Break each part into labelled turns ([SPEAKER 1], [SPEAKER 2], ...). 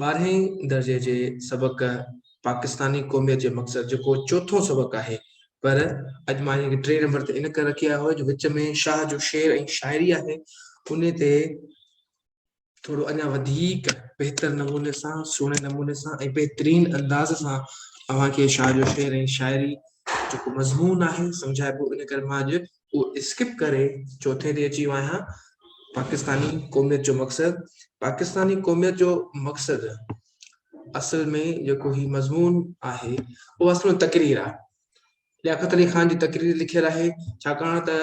[SPEAKER 1] ٻارهين درجي جي سبق پاڪستاني قوميت جي مقصد جيڪو چوٿون سبق آهي پر اڄ مان هن کي ٽي نمبر تي ان ڪري رکي آيو جو وچ ۾ شاهه جو شعر ۽ شاعري آهي ان تي ٿورو اڃا وڌيڪ بهتر نموني سان سهڻي نموني سان ۽ بهترين انداز سان اوهان کي شاهه جو شعر ۽ شاعري جيڪو مضمون آهي سمجهائبو ان ڪري مان اڄ اهو اسڪپ ڪري چوٿين تي اچي ويو آهيان پاڪستاني قوميت جو مقصد پاڪستاني قوميت جو مقصد اصل ۾ جيڪو هي مضمون آهي اهو اصل ۾ تقرير آهي لياقت علي خان جي تقرير لکيل آهي ڇاڪاڻ ته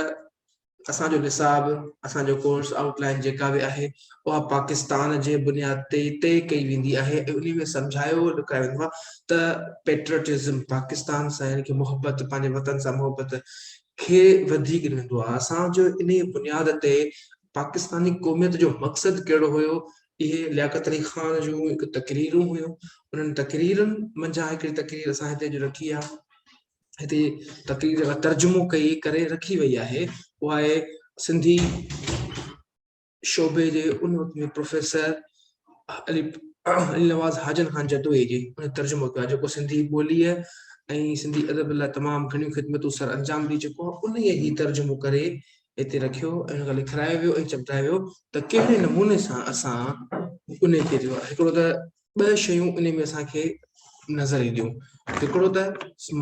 [SPEAKER 1] اسان جو نصاب اسان جو ڪورس آؤٽ لائن جيڪا به آهي اها پاڪستان جي بنياد تي طئي ڪئي ويندي آهي ۽ ان ۾ سمجھايو لکايو ويندو آهي ته پيٽريٽزم پاڪستان سان يعنی محبت پنهنجي وطن سان محبت کي وڌيڪ رهندو آهي اسان جو انهي بنياد تي پاڪستاني قوميت جو مقصد ڪهڙو هيو اهي لياقت علي خان جون هڪ تقريرون هيون انهن تقريرن منجهان هڪڙي تقرير اسان هتي جو رکي آهي هتي تقرير ترجمو ڪئي ڪري رکي وئي آهي اها آهي سنڌي شعبي جي ان وقت جي پروفيسر علي علي نواز حاجن خان جتوئي جي ان ترجمو ڪيو جيڪو سنڌي ٻوليء ۽ سنڌي ادب لاء تمام گهڻيون خدمتون سر انجام ڏي چڪو آهي ان ئي هي ترجمو ڪري هتي رکيو ۽ ان لکرايو ويو ۽ چمڪايو ويو ته ڪهڙي نموني سان اسان ان کي جو آهي هڪڙو ته ٻه شيون ان ۾ اسان کي نظر اينديون هڪڙو ته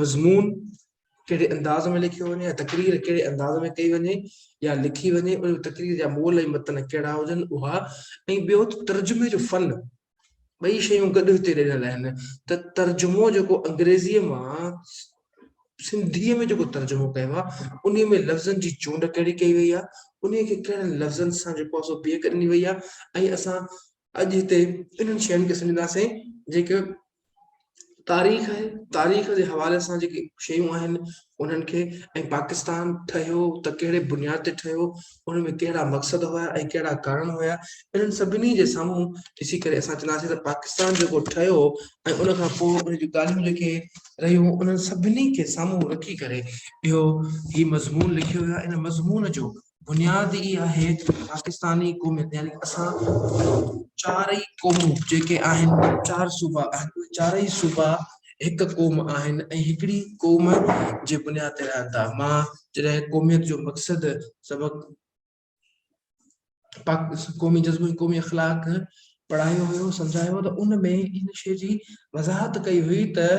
[SPEAKER 1] مضمون ڪهڙي انداز ۾ لکيو وڃي يا تقرير ڪهڙي انداز ۾ ڪئي وڃي يا لکي وڃي ان تقرير جا مول ۽ متن ڪهڙا هجن اها ۽ ٻيو ترجمي جو فن ٻئي شيون گڏ هتي ڏنل آهن ته ترجمو جيڪو انگريزيء مان سنڌيء ۾ جيڪو ترجمو ڪيو آهي ان ۾ لفظن جي چونڊ ڪهڙي ڪئي وئي آهي ان کي ڪهڙن لفظن سان جيڪو آهي سو بيهڪ ڏني وئي آهي ۽ اسان اڄ هتي انهن شين کي سمجهنداسين جيڪي تاريخ آهي تاريخ جي حوالي سان جيڪي شيون آهن انهن کي ۽ پاڪستان ٺهيو ته ڪهڙي بنياد تي ٺهيو ان ۾ ڪهڙا مقصد هيا ۽ ڪهڙا ڪارڻ هيا انهن سڀني جي سامهون ڏسي ڪري اسان چونداسين ته پاڪستان جيڪو ٺهيو ۽ ان کان پوء ان جون ڳالهيون جيڪي رهيون انهن سڀني کي سامهون رکي ڪري اهو هي مضمون لکيو ويو آهي ان مضمون جو بنياد ئي آهي ته پاڪستاني قوميت يعني اسان چارئي قومون جيڪي آهن چار صوبا آهن اهي چارئي صوبا هڪ قوم آهن ۽ هڪڙي قوم جي بنياد تي رهن ٿا مان جڏهن قوميت جو مقصد سبق پاڪ قومي جذبو ۽ قومي اخلاق پڙهايو هيو سمجهايو ته ان ۾ ان شي جي وضاحت ڪئي هئي ته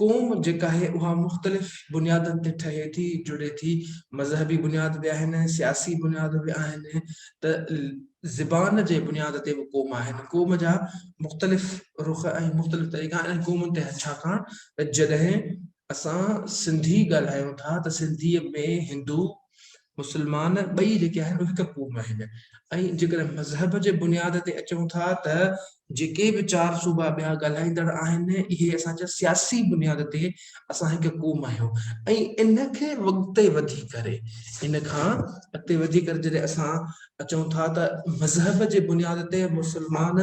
[SPEAKER 1] قوم جيڪا آهي اها مختلف بنيادن تي ٺهي ٿي جڙي ٿي مذهبي بنياد به آهن سياسي بنياد به آهن ته زبان جي بنياد تي به قوم آهن قوم جا مختلف رخ ۽ مختلف طريقا آهن قومن تي ڇاڪاڻ ته جڏهن اسان سنڌي ڳالهايون ٿا ته سنڌي ۾ هندو مسلمان ٻئي جيڪي آهن اهي هڪ قوم آهن ۽ جيڪڏهن مذهب جي بنياد تي اچون ٿا ته جيڪي به چار صوبا ٻيا ڳالهائيندڙ آهن اهي اسان جا سياسي بنياد تي اسان هڪ قوم آهيون ۽ ان کي اڳتي وڌي ڪري ان کان اڳتي وڌي ڪري جڏهن اسان اچون ٿا ته مذهب جي بنياد تي مسلمان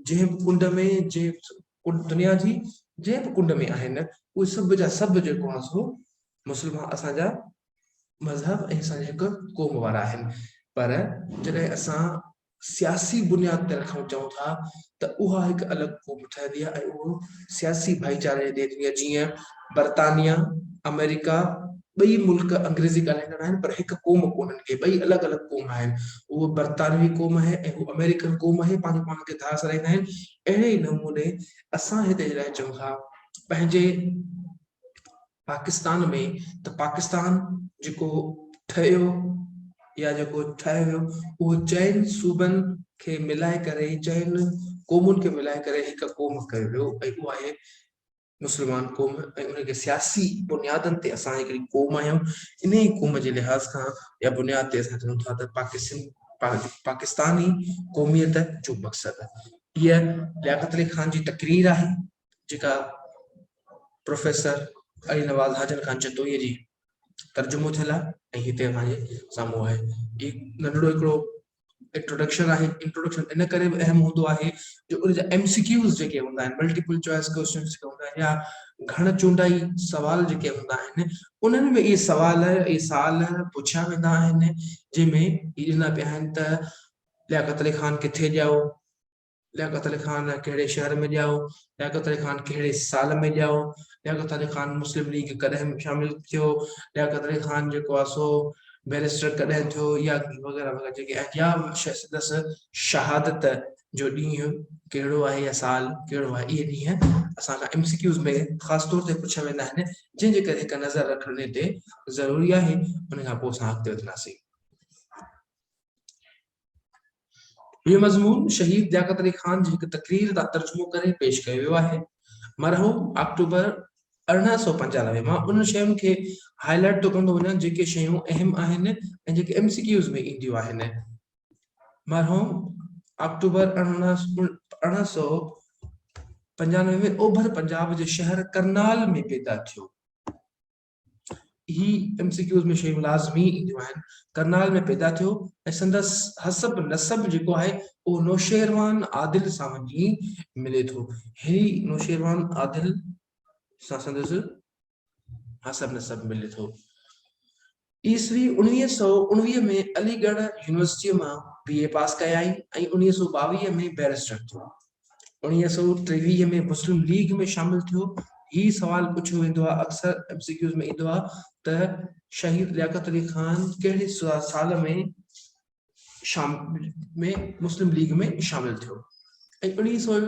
[SPEAKER 1] جنهن به ڪنڊ ۾ جنهن دنيا جي جنهن به ڪنڊ ۾ آهن اهي سڀ جا سڀ جيڪو آهن سو مسلمان اسان جا مذهب ۽ اسان هڪ قوم وارا آهن پر جڏهن اسان سياسي بنياد تي رکڻ چاهون ٿا ته اها هڪ الڳ قوم ٺهندي آهي ۽ اهو سياسي ڀائيچاري جي ديت ۾ جيئن برطانيا آمريڪا ٻئي ملڪ انگريزي ڳالهائيندڙ آهن پر هڪ قوم ڪونهن ڪي ٻئي الڳ الڳ قوم آهن اهو برطانوي قوم آهي ۽ اهو آمريڪن قوم آهي پنهنجو پاڻ کي ڌار سرائيندا آهن اهڙي نموني اسان هتي جڏهن چون ٿا پنهنجي پاڪستان ۾ ته پاڪستان جيڪو ٺهيو يا جيڪو ٺاهيو ويو اهو چئن صوبن کي ملائي ڪري چئن قومن کي ملائي ڪري هڪ قوم ڪيو ويو ۽ اها آهي مسلمان قوم ۽ ان کي سياسي بنيادن تي اسان هڪڙي قوم آهيون انهي قوم جي لحاظ کان يا بنياد تي اسان چون ٿا ته پاڪستان پاڪستاني قوميت جو مقصد هي لياقت علي خان جي تقرير آهي جيڪا پروفيسر علي نواز حاجن خان چتوئي جي ترجمو ٿيل آهي ۽ هتي اسان جي سامهون آهي هي ننڍڙو هڪڙو انٽروڊڪشن آهي انٽروڊڪشن ان ڪري به اهم هوندو آهي جو ان جا ايم سي ڪيوز جيڪي هوندا آهن ملٽيپل چوائس ڪويشن جيڪي هوندا آهن يا گهڻ چونڊائي سوال جيڪي هوندا آهن انهن ۾ اهي سوال اهي سال پڇيا ويندا آهن جنهن ۾ هي ڏنا پيا آهن ته لياقت علي خان ڪٿي ڄائو لياقت علي خان ڪهڙي شهر ۾ ڄائو؟ لياقت علي خان ڪهڙي سال ۾ ڄائو؟ لياقت علي خان مسلم ليگ ڪڏهن شامل ٿيو؟ لياقت علي خان جيڪو آهي سو بئريسٽر ڪڏهن ٿيو؟ يا وغيره وغيره جيڪي آهن يا سندس شهادت جو ڏينهن ڪهڙو آهي يا سال ڪهڙو آهي اهي ڏينهن اسان کان ايم سي ڪيوز ۾ خاص طور تي پڇيا ويندا آهن جنهن جي ڪري هڪ نظر رکڻ ان تي ضروري آهي ان کان پوء اسان اڳتي وڌنداسين. هيء مضمون شهيد لياقت علي خان جي هڪ تقرير تان ترجمو ڪري پيش ڪيو ويو آهي. مرحوم آڪٽوبر ارڙهن سؤ پنجانوي مان انهن شين کي هاء لائيٽ ٿو ڪندو وڃان جيڪي شيون اهم آهن ۽ جيڪي ايم سي ڪيوز ۾ اينديون آهن. مرحوم آڪٽوبر ارڙهن سؤ پنجانوي ۾ اوڀر پنجاب جي شهر ڪرنال ۾ پيدا ٿيو. هي ايم سي ڪيوز ۾ شيون لازمي اينديون آهن. ڪرنال ۾ پيدا ٿيو ۽ سندس حسب نسب جيڪو آهي اهو نوشيروان عادل سان وڃي ملي ٿو. هي نوشيروان عادل سان سندس حسب نسب ملي ٿو. عيسوي اڻويهه سؤ اڻويهه ۾ علي ڳڙهه يونيورسٽيء مان بي اي پاس ڪيائين ۽ اڻويهه سؤ ٻاويهه ۾ بئريسٽر ٿيو. اڻويهه سؤ ٽيويهه ۾ مسلم ليگ ۾ شامل ٿيو. هي سوال پڇيو ويندو آهي، اڪثر ايم سي ڪيوز ۾ ايندو آهي ته شهيد لياقت علي خان ڪهڙي سال ۾ شام ۾ مسلم ليگ ۾ شامل ٿيو ۽ اڻويهه سؤ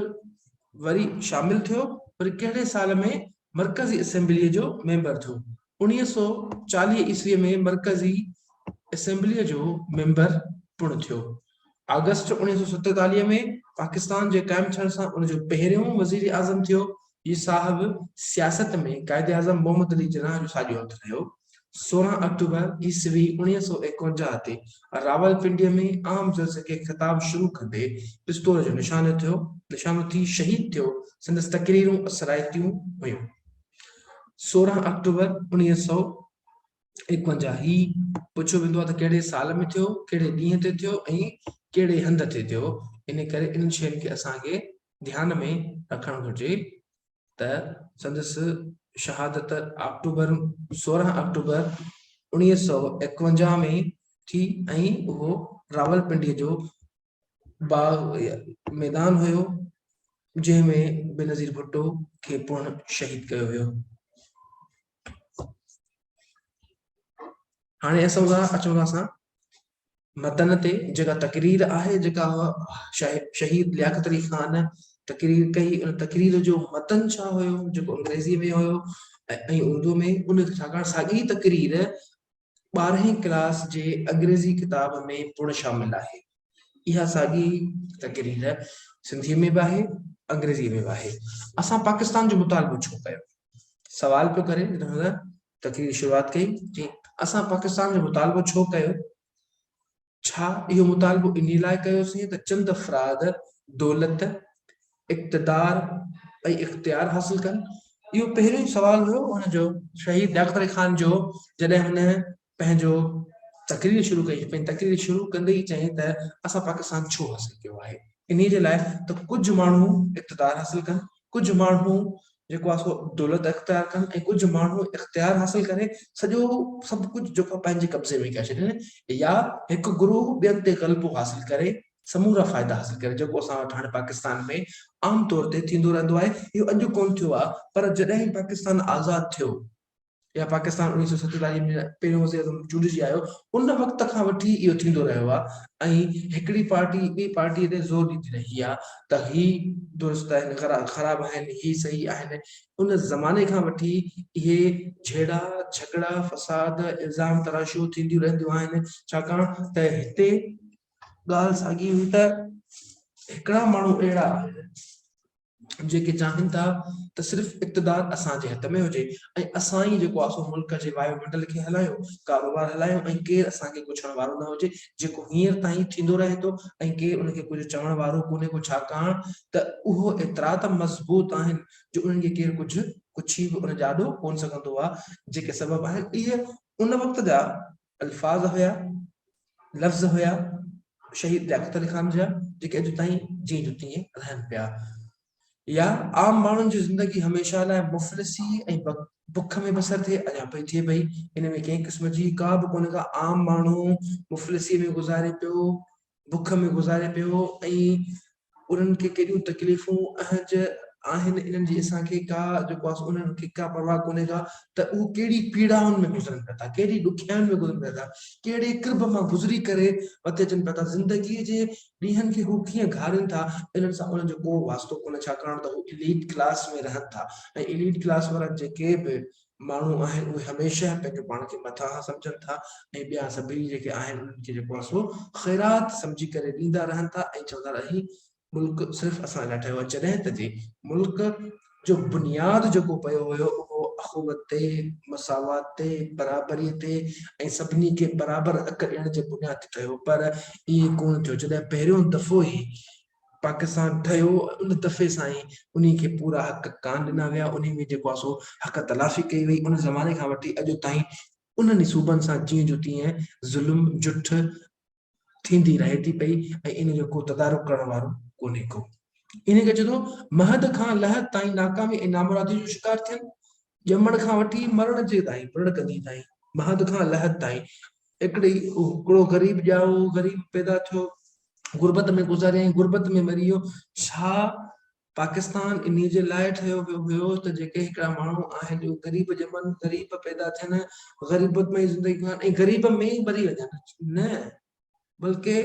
[SPEAKER 1] وري شامل ٿيو وري ڪهڙي سال ۾ مرڪزي اسيمبليء جو ميمبر ٿيو انويهه سؤ چاليهه عيسوي ۾ مرڪزي اسيمبليء جو ميمبر پڻ ٿيو. آگسٽ اوڻيهه سؤ ستيتاليهه ۾ پاڪستان جي قائم ٿيڻ سان ان جو پهريون وزير اعظم ٿيو. هي صاحب سياست ۾ قائد اعظم محمد علي جناح جو ساڄو هٿ رهيو. سورهن آڪٽوبر عيسوي اوڻيهه سؤ ايڪونجاهه تي راولپنڊيء ۾ عام جلسي کي خطاب شروع ڪندي پستول جو نشانو ٿيو نشانو ٿي شهيد ٿيو. سندس تقريرون اثرائتيون هيون. سورهن آڪٽوبر اڻويهه سؤ ايڪونجاهه هي پڇيو ويندو آهي ته ڪهڙي سال ۾ ٿيو ڪهڙي ڏينهن تي ٿيو ۽ ڪهڙي هنڌ تي ٿيو ان ڪري انهن شين کي اسان کي ڌيان ۾ رکڻ گهرجي ته سندس شهادت آڪٽوبر سورهن آڪٽوبر اڻويهه سؤ ايڪونجاهه ۾ ٿي ۽ اهو راولپنڊي جو باغ يا ميدان هيو جنهن ۾ بينظير ڀٽو کي پڻ شهيد ڪيو ويو هاڻي اسان ٿا اچون ٿا اسان متن تي جيڪا تقرير آهي جيڪا شهيد لياقت علي خان تقرير ڪئي ان تقرير جو متن ڇا هيو جيڪو انگريزي ۾ هيو ۽ اردو ۾ ان ساڳي تقرير ٻارهين ڪلاس جي انگريزي ڪتاب ۾ پڻ شامل آهي. اها ساڳي تقرير سنڌيء ۾ به آهي، انگريزيء ۾ به آهي. اسان پاڪستان جو مطالبو ڇو ڪيو؟ سوال پيو ڪري جڏهن هن تقرير جي شروعات ڪئي، چيائين، اسان پاڪستان جو مطالبو ڇو ڪيو؟ ڇا اهو مطالبو انهي لاء ڪيوسين ته چند افراد دولت، اقتدار ۽ اختيار حاصل ڪن؟ اهو پهريون ئي سوال هيو هن جو. شهيد لياقت علي خان جو جڏهن هن پنهنجو تقرير شروع ڪئي، پنهنجي تقرير شروع ڪندي ئي چيائين ته اسان پاڪستان ڇو حاصل ڪيو آهي؟ انهي جي لاء ته ڪجهه ماڻهو اقتدار حاصل ڪن، ڪجهه ماڻهو جيڪو آهي سو دولت اختيار ڪن ۽ ڪجهه ماڻهو اختيار حاصل ڪري سڄو سڀ ڪجهه جيڪو آهي پنهنجي قبضي ۾ ڪري ڇڏين يا هڪ گروهه ٻين تي غلبو حاصل ڪري سمورا فائدا حاصل ڪري جيڪو اسان وٽ هاڻي پاڪستان ۾ عام طور تي ٿيندو رهندو آهي اهو اڄ ڪونه ٿيو آهي پر جڏهن پاڪستان آزاد ٿيو يا پاڪستان اوڻيهه سؤ ستيتاليهه ۾ پهريون وزيراعظم چونڊجي آيو، ان وقت کان وٺي اهو ٿيندو رهيو آهي ۽ هڪڙي پارٽي ٻي پارٽيء تي زور ڏيندي رهي آهي ته هي درست آهن، خراب آهن، هي صحيح آهن، ان زماني کان وٺي اهي جهيڙا، جهڳڙا، فساد، الزام تراشيون ٿينديون رهنديون آهن، ڇاڪاڻ ته هتي ڳالهه ساڳي هئي ته هڪڙا ماڻهو اهڙا آهن. جيڪي چاهين ٿا ته صرف اقتدار اسان جي هٿ ۾ هجي ۽ اسان ئي جيڪو آسو ملڪ جي وايو منڊل کي هلايون، ڪاروبار هلايون ۽ ڪير اسان کي ڪڇڻ وارو نه هجي جيڪو هينئر تائين ٿيندو رهي ٿو ۽ ڪير ان کي ڪجهه چوڻ وارو ڪونهي ڪو ڇاڪاڻ ته اهو ايترا ته مضبوط آهن جو انهن کي ڪير ڪجهه ڪڇي به ان جي آڏو ڪونه سگهندو آهي جيڪي سبب آهن اهي ان وقت جا الفاظ هيا، لفظ هيا شهيد لياقت علي خان جا جيڪي اڄ تائين جيئن جو تيئن رهن پيا يا عام ماڻهن جي زندگي هميشه لاء مفلسي ۽ بک ۾ بسر ٿئي اڃا پئي ٿئي پئي ان ۾ ڪنهن قسم جي ڪا به ڪونه ڪا عام ماڻهو مفلسي ۾ گذاري پيو بک ۾ گذاري پيو هو ۽ انهن کي ڪيڏيون تڪليفون اهنج آهن انهن جي اسان کي ڪا جيڪو آس انهن کي ڪا پرواهه ڪونهي ڪا ته اهو ڪهڙي پيڙائن ۾ گذرن پيا ٿا ڪهڙي ڏکيائين ۾ گذرن پيا ٿا ڪهڙي قرب مان گذري ڪري مٿي اچن پيا ٿا زندگي جي ڏينهن کي هو ڪيئن گهارين ٿا انهن سان انهن جو ڪو واسطو ڪونهي ڇاڪاڻ ته هو اليٽ ڪلاس ۾ رهن ٿا ۽ اليٽ ڪلاس وارا جيڪي به ماڻهو آهن اهي هميشه پنهنجو پاڻ کي مٿاهان سمجهن ٿا ۽ ٻيا سڀيئي جيڪي آهن انهن کي جيڪو آهي سو خيرات سمجهي ڪري ڏيندا رهن ٿا ۽ چوندا ته هي ملڪ صرف اسان لاء ٺهيو آهي جڏهن ته جي ملڪ جو بنياد جيڪو پيو هيو اهو اخوت تي، مساوات تي، برابري تي ۽ سڀني کي برابر حق ڏيڻ جي بنياد تي ٺهيو پر ائين ڪونه ٿيو جڏهن پهريون دفعو ئي پاڪستان ٺهيو ان دفعي سان ئي انهي کي پورا حق ڪانه ڏنا ويا انهي ۾ جيڪو آهي سو حق تلافي ڪئي وئي ان زماني کان وٺي اڄ تائين انهن ئي صوبن سان جيئن جو تيئن ظلم جٺ ٿيندي رهي ٿي پئي ۽ ان جو ڪو تدارڪ ڪرڻ وارو ڪونهي ڪو انهي کي چئجي ٿو مهد کان لحد تائين ناڪامي ۽ نامرادي جو شڪار ٿين ڄمڻ کان وٺي مرڻ جي تائين، پرڻ ڪندي تائين، مهد کان لحد تائين، هڪڙي هڪڙو غريب ڄائو، غريب پيدا ٿيو، غربت ۾ گذاريائين، غربت ۾ مري ويو، ڇا پاڪستان انهي جي لاء ٺهيو ويو هيو ته جيڪي هڪڙا ماڻهو آهن اهي غريب ڄمن، غريب پيدا ٿين، غريبت ۾ ئي زندگي گذارين ۽ غريب ۾ ئي مري وڃن؟ نه! بلڪه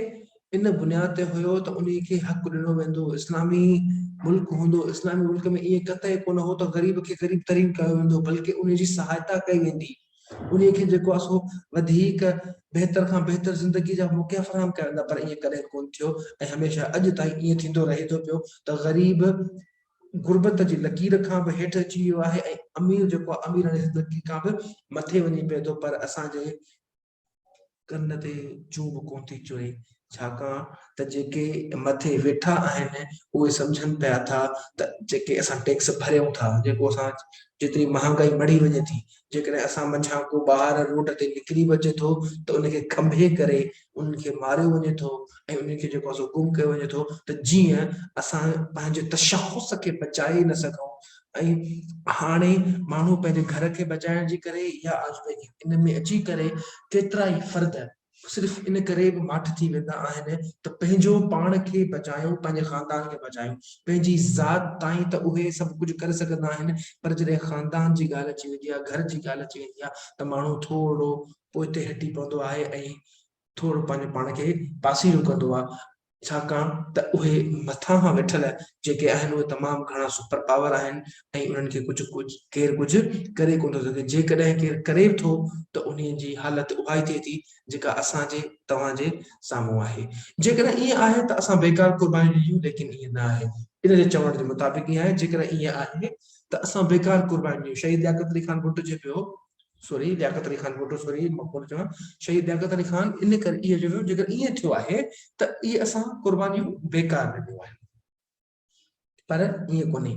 [SPEAKER 1] ان بنياد تي هيو ته انهي کي حق ڏنو ويندو، اسلامي ملڪ هوندو، اسلامي ملڪ ۾ ائين قطعي ڪونه هو ته غريب کي غريب ترين ڪيو ويندو بلڪه انهي جي سهائتا ڪئي ويندي، انهي کي جيڪو آهي سو وڌيڪ بهتر کان بهتر زندگي جا موقعا فراهم ڪيا ويندا پر ائين ڪڏهن ڪونه ٿيو ۽ هميشه اڄ تائين ائين ٿيندو رهي ٿو پيو ته غريب غربت جي لڪير کان به هيٺ اچي ويو آهي ۽ امير جيڪو آهي اميراڻي زندگي کان به مٿي وڃي پئي ٿو پر اسان جي ڪن تي چون به ڪونه ٿي چوي، ڇاڪاڻ ته جيڪي مٿي ويٺا آهن اهي سمجهن پيا ٿا ته جيڪي اسان ٽيڪس ڀريون ٿا، جيڪو اسان جيتري مهانگائي مڙهي وڃي ٿي، جيڪڏهن اسان منجهان ڪو ٻاهر روڊ تي نڪري به اچي ٿو ته ان کي کنڀي ڪري انهن کي ماريو وڃي ٿو ۽ انهن کي جيڪو آهي سو گم ڪيو وڃي ٿو ته جيئن اسان پنهنجي تشخص کي بچائي نه سگهون ۽ هاڻي ماڻهو پنهنجي گهر کي بچائڻ جي ڪري يا آزودگي ان ۾ اچي ڪري ڪيترائي فرد صرف ان ڪري به ماٺ ٿي ويندا آهن ته پنهنجو پاڻ کي بچايو پنهنجي خاندان کي بچايو پنهنجي ذات تائين ته اهي سڀ ڪجهه ڪري سگهندا آهن پر جڏهن خاندان جي ڳالهه اچي ويندي آهي گهر جي ڳالهه اچي ويندي آهي ته ماڻهو ٿورڙو پوئتي هٽي پوندو آهي ۽ ٿورڙو پنهنجو پاڻ کي پاسيرو ڪندو آهي ڇاڪاڻ ته اهي مٿانهان ويٺل جيڪي آهن اهي تمام گهڻا سپر پاور آهن ۽ انهن کي ڪجهه ڪير ڪجهه ڪري ڪونه ٿو سگهي جيڪڏهن ڪير ڪري به ٿو ته انهي جي حالت اها ئي ٿئي ٿي جيڪا اسان جي توهان جي سامهون آهي جيڪڏهن ائين آهي ته اسان بيڪار قرباني ڏنيون ليڪن ائين نه آهي ان جي چوڻ جي مطابق ائين آهي جيڪڏهن ائين آهي ته اسان بيڪار قرباني ڏنيون شهيد لياقت علي خان ڀٽو جي پيو سورهيه، لياقت علي خان ڀٽو سورهيه، مقبول چوڻ، شهيد لياقت علي خان ان ڪري اهو چيو جيڪر ائين ٿيو آهي ته اهي اسان قربانيون بيڪار ڏنيون آهن پر ائين ڪونهي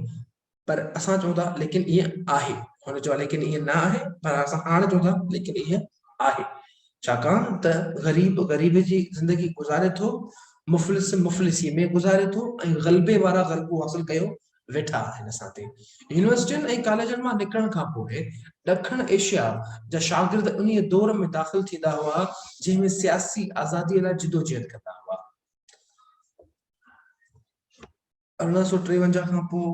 [SPEAKER 1] پر اسان چون ٿا ليڪن ائين آهي هن چيو ليڪن ائين نه آهي پر اسان هاڻ چون ٿا ليڪن ائين آهي ڇاڪاڻ ته غريب غريب جي زندگي گذاري ٿو مفلس مفلسي ۾ گذاري ٿو ۽ غلبي وارا غلبو حاصل ڪيو ويٺا آهن اسان تي. يونيورسٽين ۽ ڪاليجن مان نڪرڻ کان پوء ڏکڻ ايشيا جا شاگرد انهيء دور ۾ داخل ٿيندا هئا جنهن ۾ سياسي آزاديء لاء جدوجهد ڪندا هئا. ارڙهن سؤ ٽيونجاهه کان پوء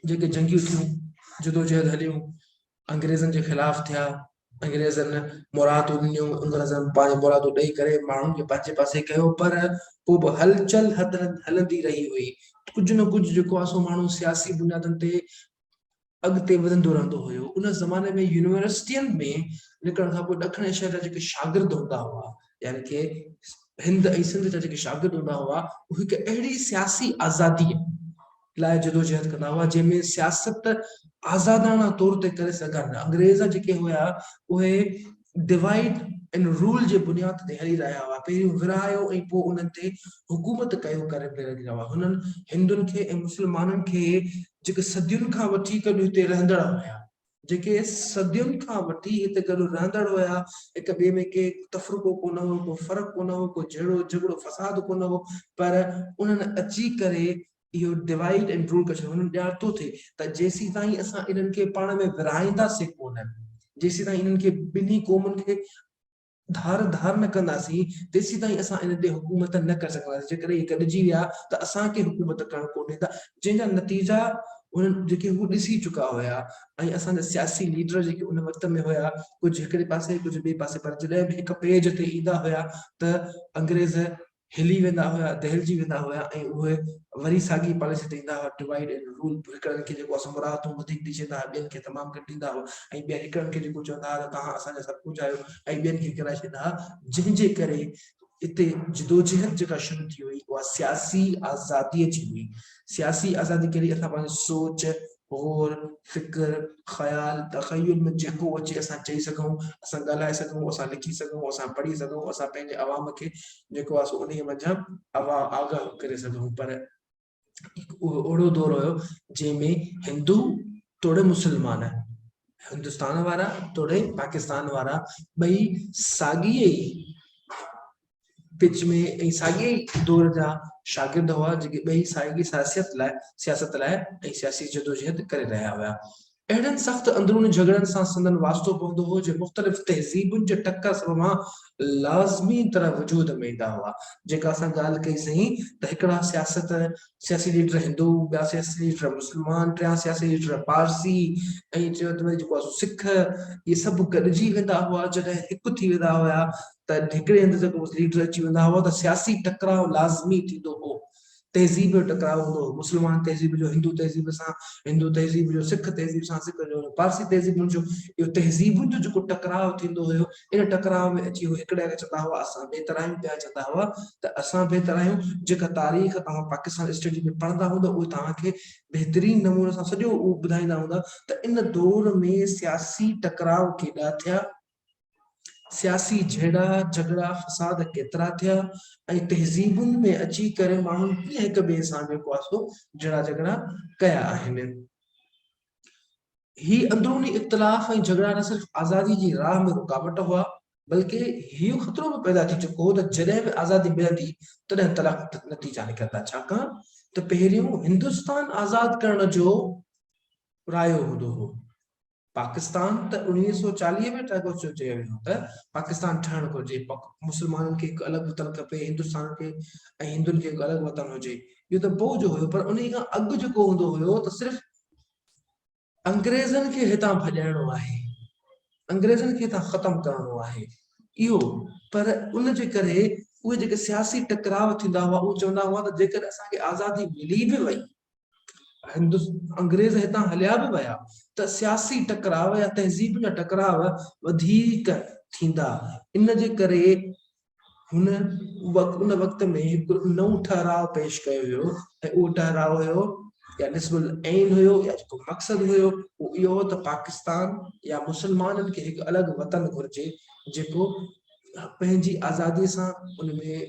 [SPEAKER 1] جيڪي جنگيون ٿيون، جدوجهد هليون، انگريزن جي خلاف ٿيا، انگريزن مرادون ڏنيون، انگريزن پنهنجون مرادون ڏئي ڪري ماڻهن کي پنهنجي پاسي ڪيو پر پوء به هلچل هلندي رهي هئي، ڪجهه نه ڪجهه جيڪو آهي سو ماڻهو سياسي بنيادن تي اڳتي وڌندو رهندو هيو، ان زماني ۾ يونيورسٽين ۾ نڪرڻ کان پوء ڏکڻ ايشيا جا جيڪي شاگرد هوندا هئا يعني ڪي هند ۽ سنڌ جا جيڪي شاگرد هوندا هئا اهي هڪ اهڙي سياسي آزادي لاء جدوجهد ڪندا هئا جنهن ۾ سياست آزاداڻا طور تي ڪري سگهن. انگريز جيڪي هيا اهي ڊوائيڊ اينڊ رول جي بنياد تي هلي رهيا هئا پهريون ورهايو ۽ پوء انهن تي حڪومت ڪيو ڪري پئي رهي هئا هنن هندن کي ۽ مسلمانن کي جيڪي صدين کان وٺي ڪڏهن هتي رهندڙ هيا. جيڪي صدين کان وٺي هتي گڏ رهندڙ هيا، هڪ ٻئي ۾ ڪي تفرقو ڪونه هو، ڪو فرق ڪونه هو، ڪو جهيڙو جهڳڙو فساد ڪونه هو، پر انهن اچي ڪري اهو ڊوائيڊ اينڊ رول ڪري ڇڏيو، انهن ڄاڻ ٿو ٿئي ته جيسيتائين اسان انهن کي پاڻ ۾ ورهائينداسين ڪونه، جيسيتائين انهن کي ٻنهي قومن کي ڌار ڌار نه ڪنداسين تيسيتائين اسان ان تي حڪومت نه ڪري سگهنداسين جيڪڏهن اهي گڏجي ويا ته اسان کي حڪومت ڪرڻ ڪو ڏيندا جنهن جا نتيجا انهن جيڪي هو ڏسي چڪا هيا ۽ اسان جا سياسي ليڊر جيڪي ان وقت ۾ هيا ڪجهه هڪڙي پاسي ڪجهه ٻئي پاسي پر جڏهن به هڪ پيج تي ايندا هيا ته انگريز هلي ويندا هيا، دهلجي ويندا هيا ۽ اهي وري ساڳي پاليسي تي ايندا هيا، Divide and Rule، هڪڙن کي جيڪو اسان مراعتون وڌيڪ ڏئي ڇڏيندا هيا، ٻين کي تمام گهٽ ڏيندا هيا ۽ ٻيا هڪڙن کي جيڪو چوندا هيا ته توهان اسان جا سڀ ڪجهه آهيو ۽ ٻين کي ڪيرائي ڇڏيندا هيا، جنهن جي ڪري اتي جدوجهد جيڪا شروع ٿي هئي اها سياسي آزاديء جي هئي، سياسي آزادي ڪهڙي اسان پنهنجي سوچ، غور، فڪر، خيال، تخيل ۾ جيڪو اچي اسان چئي سگهون، اسان ڳالهائي سگهون، اسان لکي سگهون، اسان پڙهي سگهون، اسان پنهنجي عوام کي جيڪو آهي سو انهيء منجهان عوام آگاهه ڪري سگهون پر هڪ اهو اهڙو دور هيو جنهن ۾ هندو توڙي مسلمان، هندستان وارا توڙي پاڪستان وارا ٻئي ساڳيء ئي پچ ۾ ۽ ساڳئي ئي دور جا شاگرد هئا جيڪي ٻئي ساڳئي سياسيت لاء سياست لاء ۽ سياسي جدوجهد ڪري رهيا هيا. اهڙن سخت اندروني جهڳڙن سان سندن واسطو پوندو هو جي مختلف تهذيبن جي ٽڪر سڀ مان لازمي طرح وجود ۾ ايندا هئا. جيڪا اسان ڳالهه ڪئي سهين ته هڪڙا سياست سياسي ليڊر هندو، ٻيا سياسي ليڊر مسلمان، ٽيان سياسي ليڊر پارسي ۽ چوٿ ۾ جيڪو سک اهي سڀ گڏجي ويندا هئا جڏهن هڪ ٿي ويندا هيا ته هڪڙي هنڌ جيڪو به ليڊر اچي ويندا هئا ته سياسي ٽڪراء لازمي ٿيندو هو. تهذيب جو ٽڪراء هوندو هو. مسلمان تهذيب جو هندو تهذيب سان، هندو تهذيب جو سک تهذيب سان، سک جو پارسي تهذيبن جو اهو تهذيبن جو جيڪو ٽڪراء ٿيندو هيو ان ٽڪراء ۾ اچي هو هڪڙي کي چوندا هئا اسان بهتر آهيون ٻيا چوندا هئا ته اسان بهتر آهيون جيڪا تاريخ توهان پاڪستان اسٽڊي ۾ پڙهندا هوندا اهي توهان کي بهترين نموني سان سڄو اهو ٻڌائيندا هوندا ته ان دور ۾ سياسي ٽڪراء ڪيڏا ٿيا. سياسي جهيڙا، جهڳڙا، فساد ڪيترا ٿيا ۽ تهذيبن ۾ اچي ڪري ماڻهن ڪيئن هڪ ٻئي سان جيڪو آهي سو جهيڙا جهڳڙا ڪيا آهن. هي اندروني اختلاف ۽ جهڳڙا نه صرف آزادي جي راهه ۾ رڪاوٽ هئا بلڪه هيء خطرو به پيدا ٿي چڪو هو ته جڏهن به آزادي ملندي تڏهن تلخ نتيجا نڪرندا ڇاڪاڻ ته پهريون هندستان آزاد ڪرڻ جو رايو هوندو هو. پاڪستان ته اڻويهه سؤ چاليهه ۾ ٺهبو چيو چيو ويو هو ته پاڪستان ٺهڻ گهرجي مسلمانن کي هڪ الڳ وطن کپي هندستان کي ۽ هندن کي هڪ الڳ وطن هجي اهو ته پوء جو هيو پر انهي کان اڳ جيڪو هوندو هيو ته صرف انگريزن کي هتان ڀڄائڻو آهي انگريزن کي هتان ختم ڪرڻو آهي اهو پر ان جي ڪري اهي جيڪي سياسي ٽڪراء ٿيندا هئا اهو چوندا هئا ته جيڪڏهن اسان کي آزادي ملي به وئي انگريز هتان هليا به ويا ته سياسي ٽڪراء يا تهذيب جا ٽڪراء وڌيڪ ٿيندا. ان جي ڪري هن ان وقت ۾ هڪ نئون ٺهراء پيش ڪيو هيو ۽ اهو ٺهراء هيو يا نصب العين هيو يا جيڪو مقصد هيو اهو اهو هو ته پاڪستان يا مسلمانن کي هڪ الڳ وطن گهرجي جيڪو پنهنجي آزادي سان ان ۾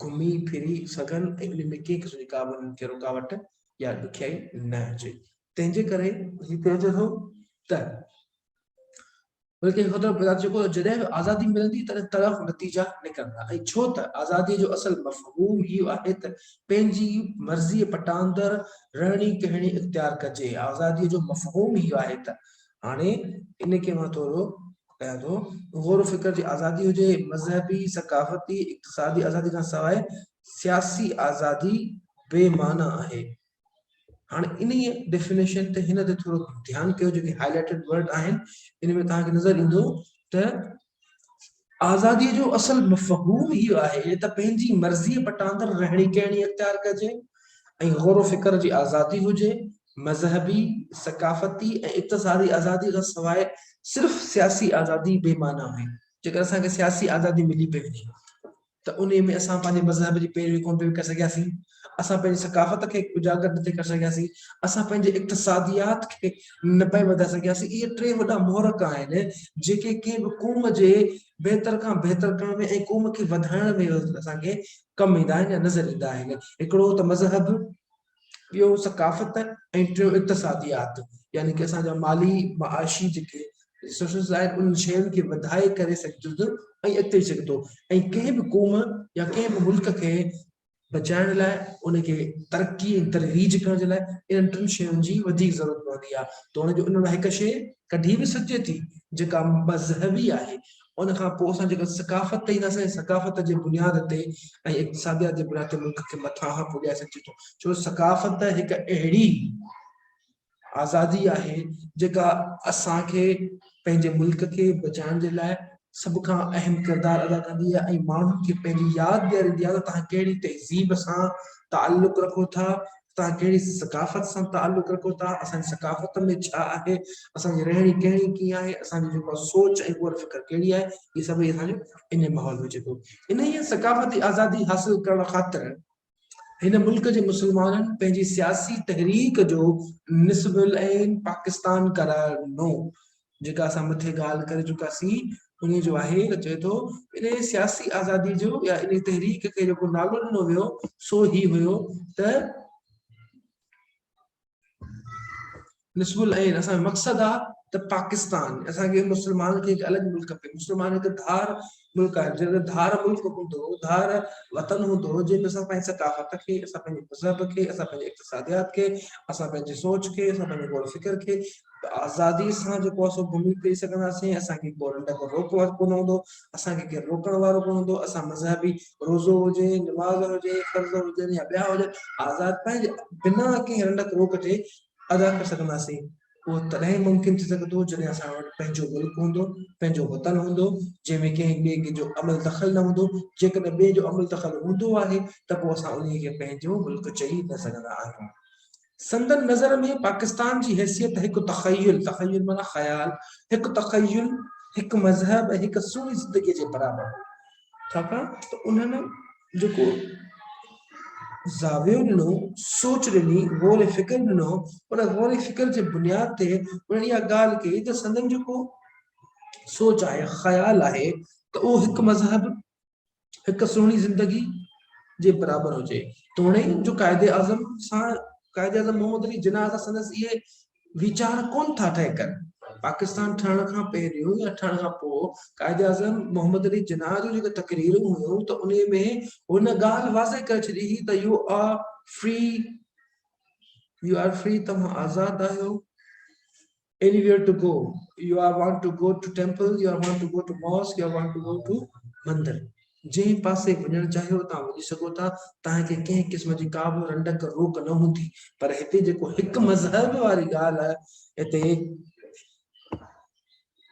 [SPEAKER 1] گهمي ڦري سگهن ۽ انهن ۾ ڪنهن قسم جي ڪابه انهن کي رڪاوٽ يا ڏکيائي نه هجي. تنهن جي ڪري هي چئجي ٿو ته بلڪه خدا بذات جيڪو جڏهن به آزادي ملندي تڏهن تلخ نتيجا نڪرندا ۽ ڇو ته آزادي جو اصل مفهوم هي آهي ته پنهنجي مرضيء پٽاندر رهڻي ڪهڻي اختيار ڪجي. آزادي جو مفهوم هي آهي ته هاڻي ان کي مان ٿورو ڪيان ٿو. غور و فڪر جي آزادي هجي، مذهبي، ثقافتي، اقتصادي آزادي کان سواء سياسي آزادي بي معنيٰ آهي. هاڻي انهيء ڊيفينيشن تي هن تي ٿورو ڌيان ڪيو جيڪي هائي لائيٽيڊ ورڊ آهن ان ۾ توهان کي نظر ايندو ته آزاديء جو اصل مفهوم هيء آهي ته پنهنجي مرضيء پٽاندر رهڻي ڪهڻي اختيار ڪجي ۽ غور و فڪر جي آزادي هجي، مذهبي، ثقافتي ۽ اقتصادي آزاديء کان سواء صرف سياسي آزادي بي معنيٰ آهي، جيڪڏهن اسان کي سياسي آزادي ملي پئي وڃي ها ته. ته انهيء ۾ اسان پنهنجي مذهب جي پيروي ڪونه پئي ڪري سگهياسين، اسان پنهنجي ثقافت کي اجاگر نه ٿي ڪري سگهياسين، اسان پنهنجي اقتصاديات کي نه پئي وڌائي سگهياسين، اهي ٽي وڏا محرڪ آهن، جيڪي ڪنهن به قوم جي بهتر کان بهتر ڪرڻ ۾ ۽ قوم کي وڌائڻ ۾ اسان کي ڪم ايندا آهن يا نظر ايندا آهن، هڪڙو ته مذهب، ٻيو ثقافت ۽ ٽيون اقتصاديات يعني ڪي اسان جا مالي معاشي جيڪي ريسورسز آهن انهن شين کي وڌائي ڪري سگهجي ٿو ۽ اڳتي سگهي ٿو ۽ ڪنهن به قوم يا ڪنهن به ملڪ کي بچائڻ لاء ان کي ترقي ۽ ترويج ڪرڻ جي لاء انهن ٽن شين جي وڌيڪ ضرورت پوندي آهي ته هن جو ان لاء هڪ شي ڪڍي به سگهجي ٿي جيڪا مذهبي آهي ان کان پوء اسان جيڪڏهن ثقافت تي اينداسين ۽ ثقافت جي بنياد تي ۽ اقتصاديات جي بنياد تي ملڪ کي مٿانهان پڄائي سگهجي ٿو ڇو جو ثقافت هڪ اهڙي آزادي آهي جيڪا اسان کي پنهنجي ملڪ کي بچائڻ جي لاء سڀ کان اهم ڪردار ادا ڪندي آهي ۽ ماڻهن کي پنهنجي ياد ڏياريندي آهي ته توهان ڪهڙي تهذيب سان تعلق رکو ٿا توهان ڪهڙي ثقافت سان تعلق رکو ٿا، اسان جي ثقافت ۾ ڇا آهي، اسان جي رهڻي ڪهڻي ڪيئن آهي، اسان جي جيڪا سوچ ۽ غور فڪر ڪهڙي آهي، هي سڀئي اسان جو انهيء ماحول ۾ اچي ٿو. انهيء ثقافتي آزادي حاصل ڪرڻ خاطر هن ملڪ جي مسلمانن پنهنجي سياسي تحريڪ جو نصب العين پاڪستان قرار ڏنو. جيڪا اسان مٿي ڳالهه ڪري چڪاسين انهي جو آهي ته چئي ٿو انهي سياسي آزادي جو يا انهي تحريڪ کي جيڪو نالو ڏنو ويو سو هي هيو ته نصب العين اسان جو مقصد آهي ته پاڪستان اسان کي مسلمان کي هڪ الڳ ملڪ کپي مسلمان هڪ ڌار ملڪ آهي جنهن جو ڌار ملڪ هوندو، ڌار وطن هوندو، جنهن ۾ اسان پنهنجي ثقافت کي، اسان پنهنجي مذهب کي، اسان پنهنجي اقتصاديات کي، اسان پنهنجي سوچ کي، اسان پنهنجي غور فڪر کي آزادي سان جيڪو آهي سو گهمي ڦري سگهنداسين، اسان کي ڪو رنڊڪ روڪ وارو ڪونه هوندو، اسان کي ڪير روڪڻ وارو ڪونه هوندو، اسان مذهبي روزو هجي، نماز هجي، فرض هجن يا ٻيا هجن آزاد پنهنجي بنا ڪنهن رنڊڪ روڪ جي ادا ڪري سگهنداسين، اهو تڏهن ئي ممڪن ٿي سگهندو جڏهن اسان وٽ پنهنجو ملڪ هوندو، پنهنجو وطن هوندو، جنهن ۾ ڪنهن ٻئي ڪنهن جو عمل دخل نه هوندو، جيڪڏهن ٻئي جو عمل دخل هوندو آهي ته پوء اسان انهي کي پنهنجو ملڪ چئي نه سگهندا آهيون. سندن نظر ۾ پاڪستان جي حيثيت هڪ تخيل، تخيل معنيٰ خيال، هڪ تخيل، هڪ مذهب ۽ هڪ سوڙهي زندگيء جي برابر هئي. ڇاڪاڻ ته انهن جيڪو زاويو ڏنو سوچ ڏني غور فڪر ڏنو ان غور فڪر جي بنياد تي انهن اها ڳالهه ڪئي ته سندن جيڪو سوچ آهي خيال آهي ته اهو هڪ مذهب هڪ سهڻي زندگي جي برابر هجي توڻي جو قائد اعظم سان قائد اعظم محمد علي جناح سان سندس اهي ويچار ڪونه ٿا طئي ڪن. پاڪستان ٺهڻ کان پهريون يا ٺهڻ کان پوء قائداعظم محمد علي جناح جون جيڪي تقريرون هيون ته انهي ۾ هو نه ڳالهه واضح ڪري ڇڏي هئي ته you are free you are free توهان آزاد آهيو anywhere to go you are want to go to temple you are want to go to mosque you are want to go to mandir جنهن پاسي وڃڻ چاهيو تان وڃي سگهو ٿا، تنهن کي ڪنهن قسم جي ڪا به رنڊڪ روڪ نه هوندي، پر هتي جيڪو هڪ مذهب واري ڳالهه هتي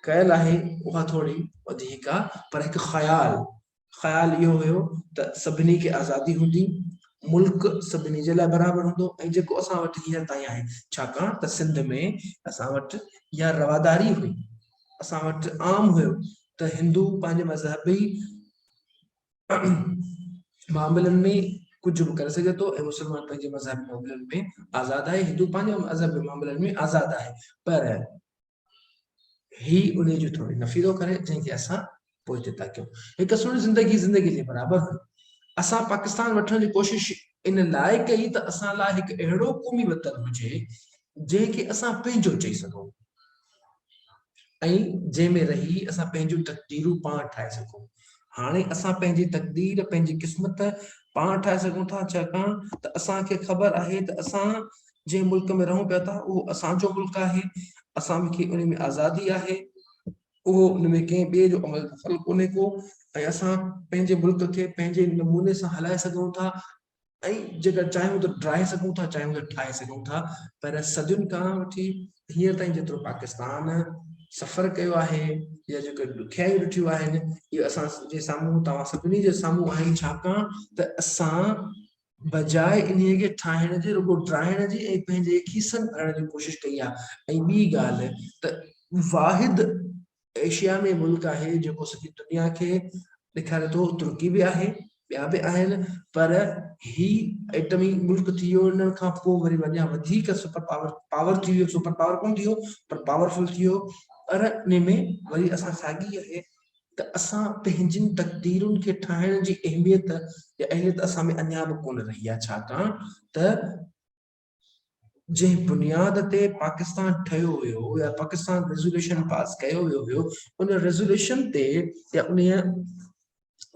[SPEAKER 1] ڪيل آهي اها ٿوري وڌيڪ آ پر هڪ خيال خيال اهو هيو ته سڀني کي آزادي هوندي، ملڪ سڀني جي لاء برابر هوندو ۽ جيڪو اسان وٽ هينئر تائين آهي ڇاڪاڻ ته سنڌ ۾ اسان وٽ اها رواداري هئي، اسان وٽ عام هيو ته هندو پنهنجي مذهبي معاملن ۾ ڪجهه به ڪري سگهي ٿو ۽ مسلمان پنهنجي مذهبي معاملن ۾ آزاد آهي هندو پنهنجي مذهبي معاملن ۾ آزاد آهي پر هي ان جو ٿوري نفي ٿو ڪري جنهن کي اسان پوء هتي تا ڪيون هڪ سوڻي زندگي زندگي جي برابر هئي اسان پاڪستان وٺڻ جي ڪوشش ان لاء ڪئي ته اسان لاء هڪ اهڙو قومي وطن هجي جنهن کي اسان پنهنجو چئي سگهون ۽ جنهن ۾ رهي اسان پنهنجون تقديرون پاڻ ٺاهي سگهون. هاڻي اسان پنهنجي تقدير، پنهنجي قسمت پاڻ ٺاهي سگهون ٿا ڇاڪاڻ ته اسان کي خبر آهي ته اسان جنهن ملڪ ۾ رهون پيا ٿا اهو اسان جو ملڪ آهي، اسان کي ان ۾ آزادي آهي، اهو ان ۾ ڪنهن ٻئي جو عمل دخل ڪونهي ڪو ۽ اسان پنهنجي ملڪ کي پنهنجي نموني سان هلائي سگهون ٿا ۽ جيڪر چاهيون ته ڊاهي سگهون ٿا چاهيون ته ٺاهي سگهون ٿا پر صدين کان وٺي هينئر تائين جيترو پاڪستان سفر ڪيو آهي يا جيڪي ڏکيائيون ڏٺيون آهن اهي اسان جي سامهون توهان سڀني جي سامهون آهن ڇاڪاڻ ته اسان بجاء انهي کي ٺاهڻ جي رڳو ڊاهڻ جي ۽ پنهنجي کيسن ڀرڻ جي ڪوشش ڪئي آهي ۽ ٻي ڳالهه ته واحد ايشيا ۾ ملڪ آهي جيڪو سڄي دنيا کي ڏيکاري ٿو ترڪي به آهي ٻيا به آهن پر هي ايٽمي ملڪ ٿي ويو انهن کان پوء وري اڃا وڌيڪ سپر پاور پاور ٿي ويو سپر پاور ڪون ٿي ويو پر پاورفل ٿي ويو پر ان ۾ وري اسان ساڳي آهي ته اسان پنهنجين تقديرن کي ٺاهڻ جي اهميت يا اهليت اسان ۾ اڃا به ڪونه رهي آهي ڇاڪاڻ ته جنهن بنياد تي پاڪستان ٺهيو ويو هو يا پاڪستان ريزوليوشن پاس ڪيو ويو هيو ان ريزوليوشن تي يا ان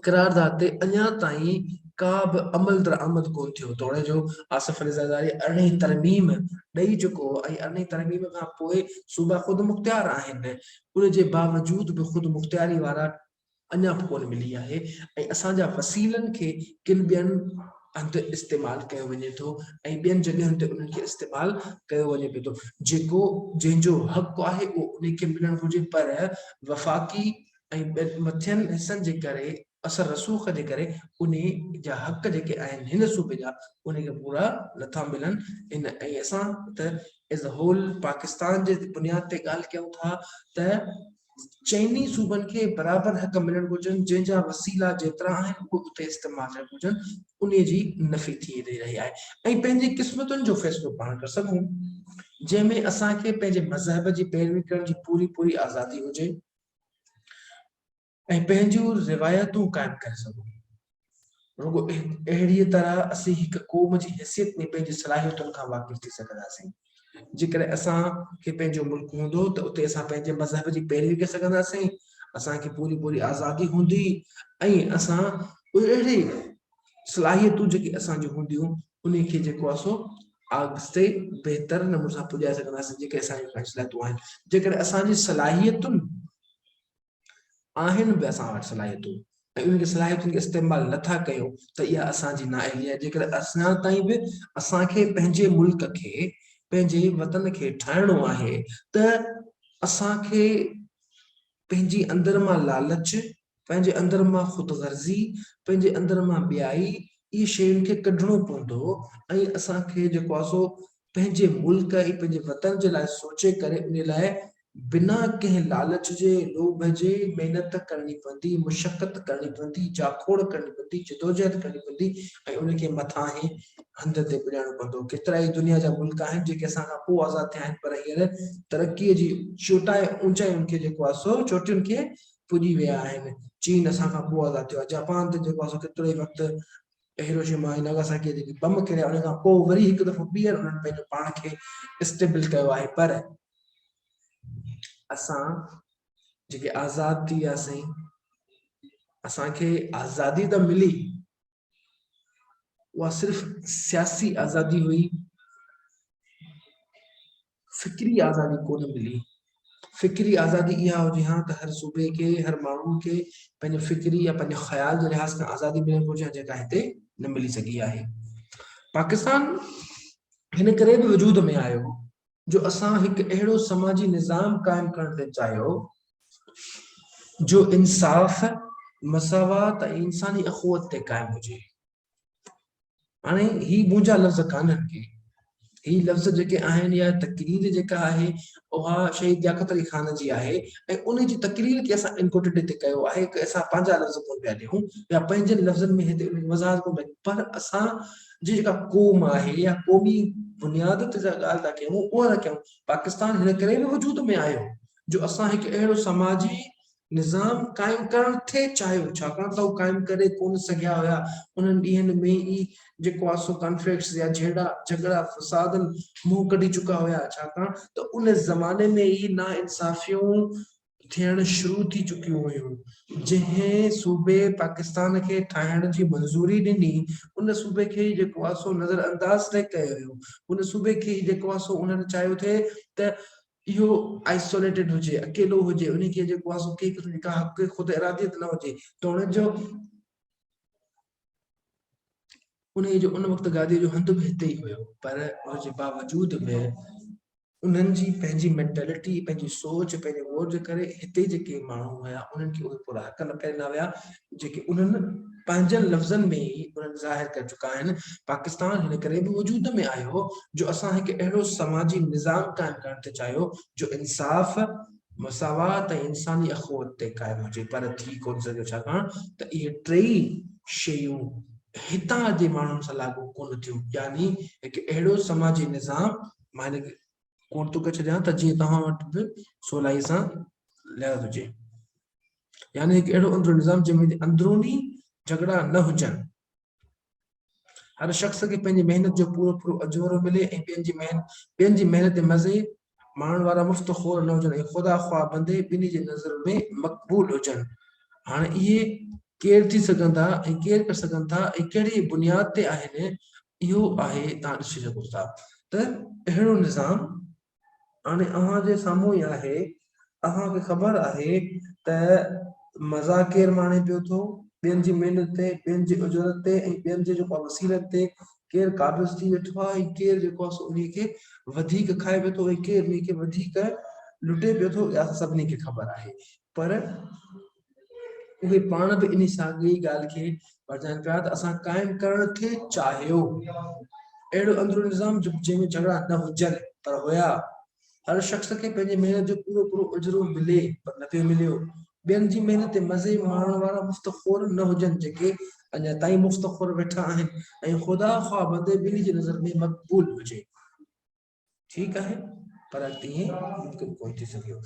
[SPEAKER 1] قرارداد تي اڃا تائين ڪا به عمل درآمد ڪون ٿيو توڙي جو آصف علي زرداري ارڙهين ترميم ڏئي چڪو هو ۽ ارڙهين ترميم کان پوء صوبا خود مختيار آهن ان جي باوجود به خود مختياري وارا اڃا به ڪونه ملي آهي ۽ اسان جا وسيلن کي ڪن ٻين هنڌ استعمال ڪيو وڃي ٿو ۽ ٻين جڳهين تي انهن کي استعمال ڪيو وڃي پيو ٿو جيڪو جنهن جو حق آهي اهو انهي کي ملڻ گهرجي پر وفاقي ۽ مٿين حصن جي ڪري اثر رسوخ جي ڪري انهي جا حق جيڪي آهن هن صوبي جا انهي کي پورا نٿا ملن ان ۽ اسان ته ايز اي هول پاڪستان جي بنياد تي ڳالهه ڪيون ٿا ته چئني صوبن کي برابر حق ملڻ گهرجن جنهن جا وسيلا جيترا آهن اهي اتي استعمال ٿيڻ گهرجن انهي جي نفي ٿي رهي آهي ۽ پنهنجي قسمتن جو فيصلو پاڻ ڪري سگهون جنهن ۾ اسان کي پنهنجي مذهب جي پيروي ڪرڻ جي پوري پوري آزادي هجي ۽ پنهنجون روايتون قائم ڪري سگهون رڳو اهڙيء طرح اسين هڪ قوم جي حيثيت ۾ پنهنجي صلاحيتن کان واقف ٿي سگهنداسين. جيڪڏهن اسان کي پنهنجو ملڪ هوندو ته اتي اسان پنهنجي مذهب جي پيروي ڪري سگهنداسين، اسان کي پوري پوري آزادي هوندي ۽ اسان اهڙي صلاحيتون جيڪي اسان جون هونديون انهي کي جيڪو آهي سو اڳتي بهتر نموني سان پڄائي سگهنداسين جيڪي اسان جون خواهشلاتون آهن. جيڪڏهن اسان جي صلاحيتن آهن به اسان وٽ صلاحيتون ۽ انهن کي صلاحيتن کي استعمال نٿا ڪيون ته اها اسان جي نااهلي آهي جيڪڏهن اڃا تائين به اسان کي پنهنجي ملڪ کي پنهنجي وطن کي ٺاهڻو آهي ته اسان کي پنهنجي اندر مان لالچ پنهنجي اندر مان خود غرضي پنهنجي اندر مان ٻيائي اهي شين کي ڪڍڻو پوندو ۽ اسان کي جيڪو آهي سو پنهنجي ملڪ ۽ پنهنجي وطن جي لاء سوچي ڪري انهي لاء بنا ڪنهن لالچ جي، لوڀ جي محنت ڪرڻي پوندي، مشقت ڪرڻي پوندي، جاکوڙ ڪرڻي پوندي، جدوجهد ڪرڻي پوندي ۽ ان کي مٿانهين هنڌ تي پڄائڻو پوندو. ڪيترائي دنيا جا ملڪ آهن جيڪي اسان کان پوء آزاد ٿيا آهن پر هينئر ترقي جي چوٽائي اوچائين کي جيڪو آهي سو چوٽين کي پڄي ويا آهن. چين اسان کان پوء آزاد ٿيو آهي. جاپان ته جيڪو آهي سو ڪيترو ئي وقت ته هيروشيما ۽ ناگاساڪيء جيڪي بم ڪريا انهن کان پوء وري هڪ دفعو ٻيهر انهن پنهنجو پاڻ کي اسٽيبل ڪيو آهي پر اسان جيڪي آزاد ٿي وياسين اسان کي آزادي ته ملي اها صرف سياسي آزادي هئي فڪري آزادي ڪونه ملي. فڪري آزادي اها هجي ها ته هر صوبي کي، هر ماڻهو کي پنهنجي فڪري يا پنهنجي خيال جي لحاظ کان آزادي ملڻ گهرجي ها جيڪا هتي نه ملي سگهي آهي. پاڪستان هن ڪري به وجود ۾ آيو جو اسان هڪ اهڙو سماجي نظام قائم ڪرڻ تي چاهيو جو انصاف، مساوات ۽ انساني اخوت تي قائم هجي. هاڻي هي منهنجا لفظ ڪانهن ڪي هي لفظ جيڪي آهن يا تقرير جيڪا آهي اها شهيد لياقت علي خان جي آهي ۽ ان جي تقرير کي اسان انڪوٽيڊ هتي ڪيو آهي اسان پنهنجا لفظ ڪون پيا ڏيون يا پنهنجن لفظن ۾ هتي ان وضاحت ڪون پيا پر اسان جي جيڪا قوم آهي يا قومي بنياد تي جا ڳالهه ٿا ڪيون اها ٿا ڪيون پاڪستان هن ڪري به وجود ۾ آيو جو اسان هڪ اهڙو سماجي نظام قائم ڪرڻ ٿي چاهيو ڇاڪاڻ ته هو قائم ڪري ڪونه سگهيا هيا انهن ڏينهن ۾ ئي جيڪو آهي سو ڪانفلڪٽس يا جهيڙا جهڳڙا فسادن منهن ڪڍي چڪا هيا ڇاڪاڻ ته ان زماني ۾ ئي نا انصافيون ٿيڻ شروع ٿي چڪيون هيون جنهن صوبي پاڪستان کي ٺاهڻ جي منظوري ڏني ان صوبي کي ئي جيڪو آهي سو نظر انداز ٿي ڪيو ويو ان صوبي کي ئي جيڪو آهي سو انهن چاهيو ٿي ته اهو Isolated هجي، اڪيلو هجي، انهي کي جيڪو آهي سو ڪنهن قسم جي ڪا حقيقي خود اراديت نه هجي ته ان جو انهي جو ان وقت گاديء جو هنڌ به هتي ئي هيو پر ان جي باوجود به انهن جي پنهنجي مينٽلٽي پنهنجي سوچ پنهنجي غور جي ڪري هتي جيڪي ماڻهو هيا انهن کي اهي پورا حق نه پهري نه هيا جيڪي انهن پنهنجن لفظن ۾ ئي انهن ظاهر ڪري چڪا آهن، پاڪستان هن ڪري به وجود ۾ آيو جو اسان هڪ اهڙو سماجي نظام قائم ڪرڻ تي چاهيو جو انصاف، مساوات ۽ انساني اخوت تي قائم هجي پر ٿي ڪونه سگهيو ڇاڪاڻ ته اهي ٽيئي شيون هتان جي ماڻهن سان لاڳو ڪونه ٿيون يعني هڪ اهڙو سماجي نظام مان هن کي ڪوٽ ٿو ڪري ڇڏيان ته جيئن توهان وٽ به سولائي سان لحاظ هجي. يعني هڪ اهڙو اندرون نظام جنهن ۾ اندروني جھڳڙا نه هجن هر شخص کي پنهنجي محنت جو پورو پورو اجورو ملي ۽ ٻين جي محنت ٻين جي محنت مزي ماڻڻ وارا مفت خور نه هجن ۽ خدا خواهه بندي ٻنهي جي نظر ۾ مقبول هجن هاڻي اهي ڪير ٿي سگهن ٿا ۽ ڪير ڪري سگهن ٿا ۽ ڪهڙي بنياد تي آهن اهو آهي تان ڏسي سگهو ٿا ته اهڙو نظام هاڻي اوهان جي سامهون ئي آهي. اوهان کي خبر آهي ته مزاح ڪير ماڻي پيو ٿو، ٻين جي محنت تي، ٻين جي اجرت تي ۽ ٻين جي جيڪو آهي وسيلن تي، ڪير قابض ٿي ويٺو آهي ۽ ڪير جيڪو آهي سو انهي کي وڌيڪ کائي پيو ٿو ۽ ڪير انهي کي وڌيڪ لٽي پيو ٿو، اها اسان سڀني کي خبر آهي. پر اهي پاڻ به انهي ساڳي ڳالهه کي پرچائن پيا ته اسان قائم ڪرڻ کي چاهيو اهڙو اندرون نظام جنهن ۾ جھڳڙا نه هجن پر هيا هر شخص کي پنهنجي محنت جو پورو پورو اجرو ملي پر نه پيو مليو ٻين جي محنت تي مزي ماڻڻ وارا مفت خور نه هجن جيڪي اڃا تائين مفت خور ويٺا آهن ۽ خدا خواه بندي ٻنهي جي نظر ۾ مقبول هجي ٺيڪ آهي پر تيئن ممڪن ڪونه ٿي سگهيو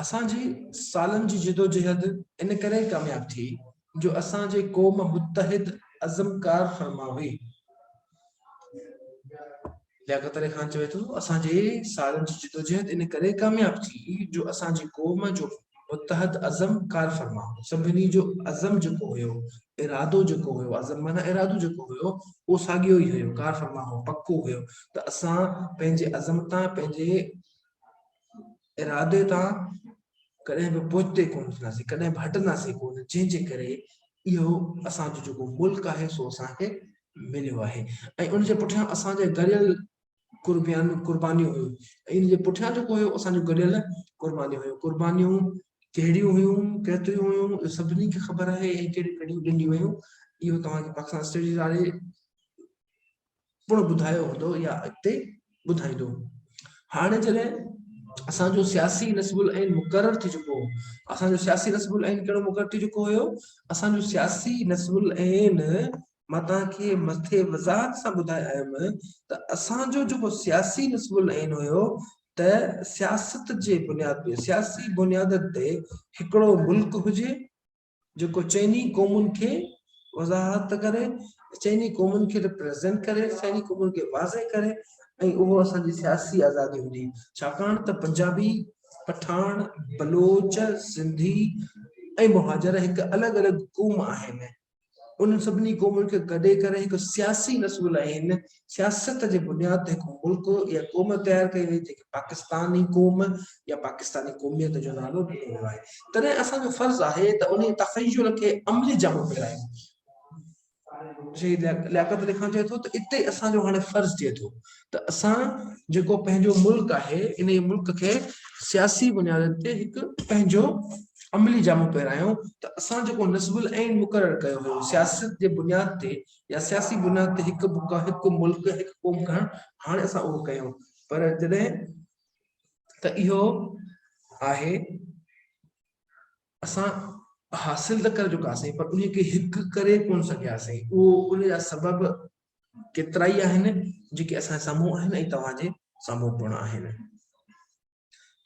[SPEAKER 1] اسان جي سالن جي جدوجهد ان ڪري ڪامياب ٿي جو اسان جي قوم متحد عزم ڪار فرما هئي لياقت علي خان چوي ٿو اسان جي سالن جي جدوجهد ان ڪري ڪامياب ٿي جو اسان جي قوم جو متحد عزم ڪار فرما سڀني جو عزم جيڪو هيو ارادو جيڪو هيو عزم معنيٰ ارادو جيڪو هيو اهو ساڳيو ئي هيو ڪار فرما هو پڪو هيو ته اسان پنهنجي عزم تان پنهنجي ارادي تان ڪڏهن به پوئتي ڪونه ٿينداسين ڪڏهن به هٽنداسين ڪونه جنهن جي ڪري اهو اسان جو جيڪو ملڪ آهي سو اسان کي مليو آهي ۽ ان جي پٺيان اسان جي گڏيل قربيان قربانيون هيون ۽ ان جي پٺيان جيڪو هيو اسان جو گڏيل قربانيون هيون قربانيون ڪهڙيون هيون ڪيتريون هيون اهو سڀني کي خبر آهي ۽ ڪهڙيون ڪهڙيون ڏنيون ويون اهو توهان کي پاڪستان اسٽڊيز واري پڻ ٻڌايو هوندو يا اڳتي ٻڌائيندو هاڻي جڏهن اسان جو سياسي نصب العين مقرر ٿي چڪو هو اسان جو سياسي نصب العين ڪهڙو مقرر ٿي چڪو هيو اسان جو سياسي نصب العين مان توهان کي مٿي وضاحت سان ٻڌايو آهيم ته اسان جو جيڪو سياسي نصب العين هيو ته سياست جي بنياد تي سياسي بنيادن تي هڪڙو ملڪ هجي جيڪو چئني قومن کي وضاحت ڪري چئني قومن کي ريپريزنٽ ڪري چئني قومن کي واضح ڪري ۽ اهو اسان جي سياسي آزادي هجي ڇاڪاڻ ته پنجابي پٺاڻ بلوچ سنڌي ۽ مهاجر هڪ الڳ الڳ قوم آهن انهن سڀني قومن کي گڏي ڪري هڪ سياسي رسول عين سياست جي بنياد تي هڪ ملڪ يا قوم تيار ڪئي وئي جنهن کي پاڪستاني قوم يا پاڪستاني قوميت جو نالو ڏنو ويو آهي تڏهن اسان جو فرض آهي ته انهي تخيل کي عملي جامو پهرايون. شهيد لياقت علي خان چئي ٿو ته اتي اسان جو هاڻي فرض ٿئي ٿو ته اسان جيڪو پنهنجو ملڪ آهي انهي ملڪ کي سياسي بنيادن تي هڪ پنهنجو عملي جامو پهرايون ته اسان جيڪو نصب العين مقرر ڪيو هيو سياست جي بنياد تي يا سياسي بنياد تي هڪ بکا هڪ ملڪ هڪ قوم کڻڻ هاڻي اسان اهو ڪيون پر جڏهن ته اهو آهي اسان حاصل ته ڪري چڪاسين پر انهي کي هڪ ڪري ڪون سگهياسين اهو ان جا سبب ڪيترائي آهن جيڪي اسان جي سامهون آهن ۽ توهان جي سامهون پڻ آهن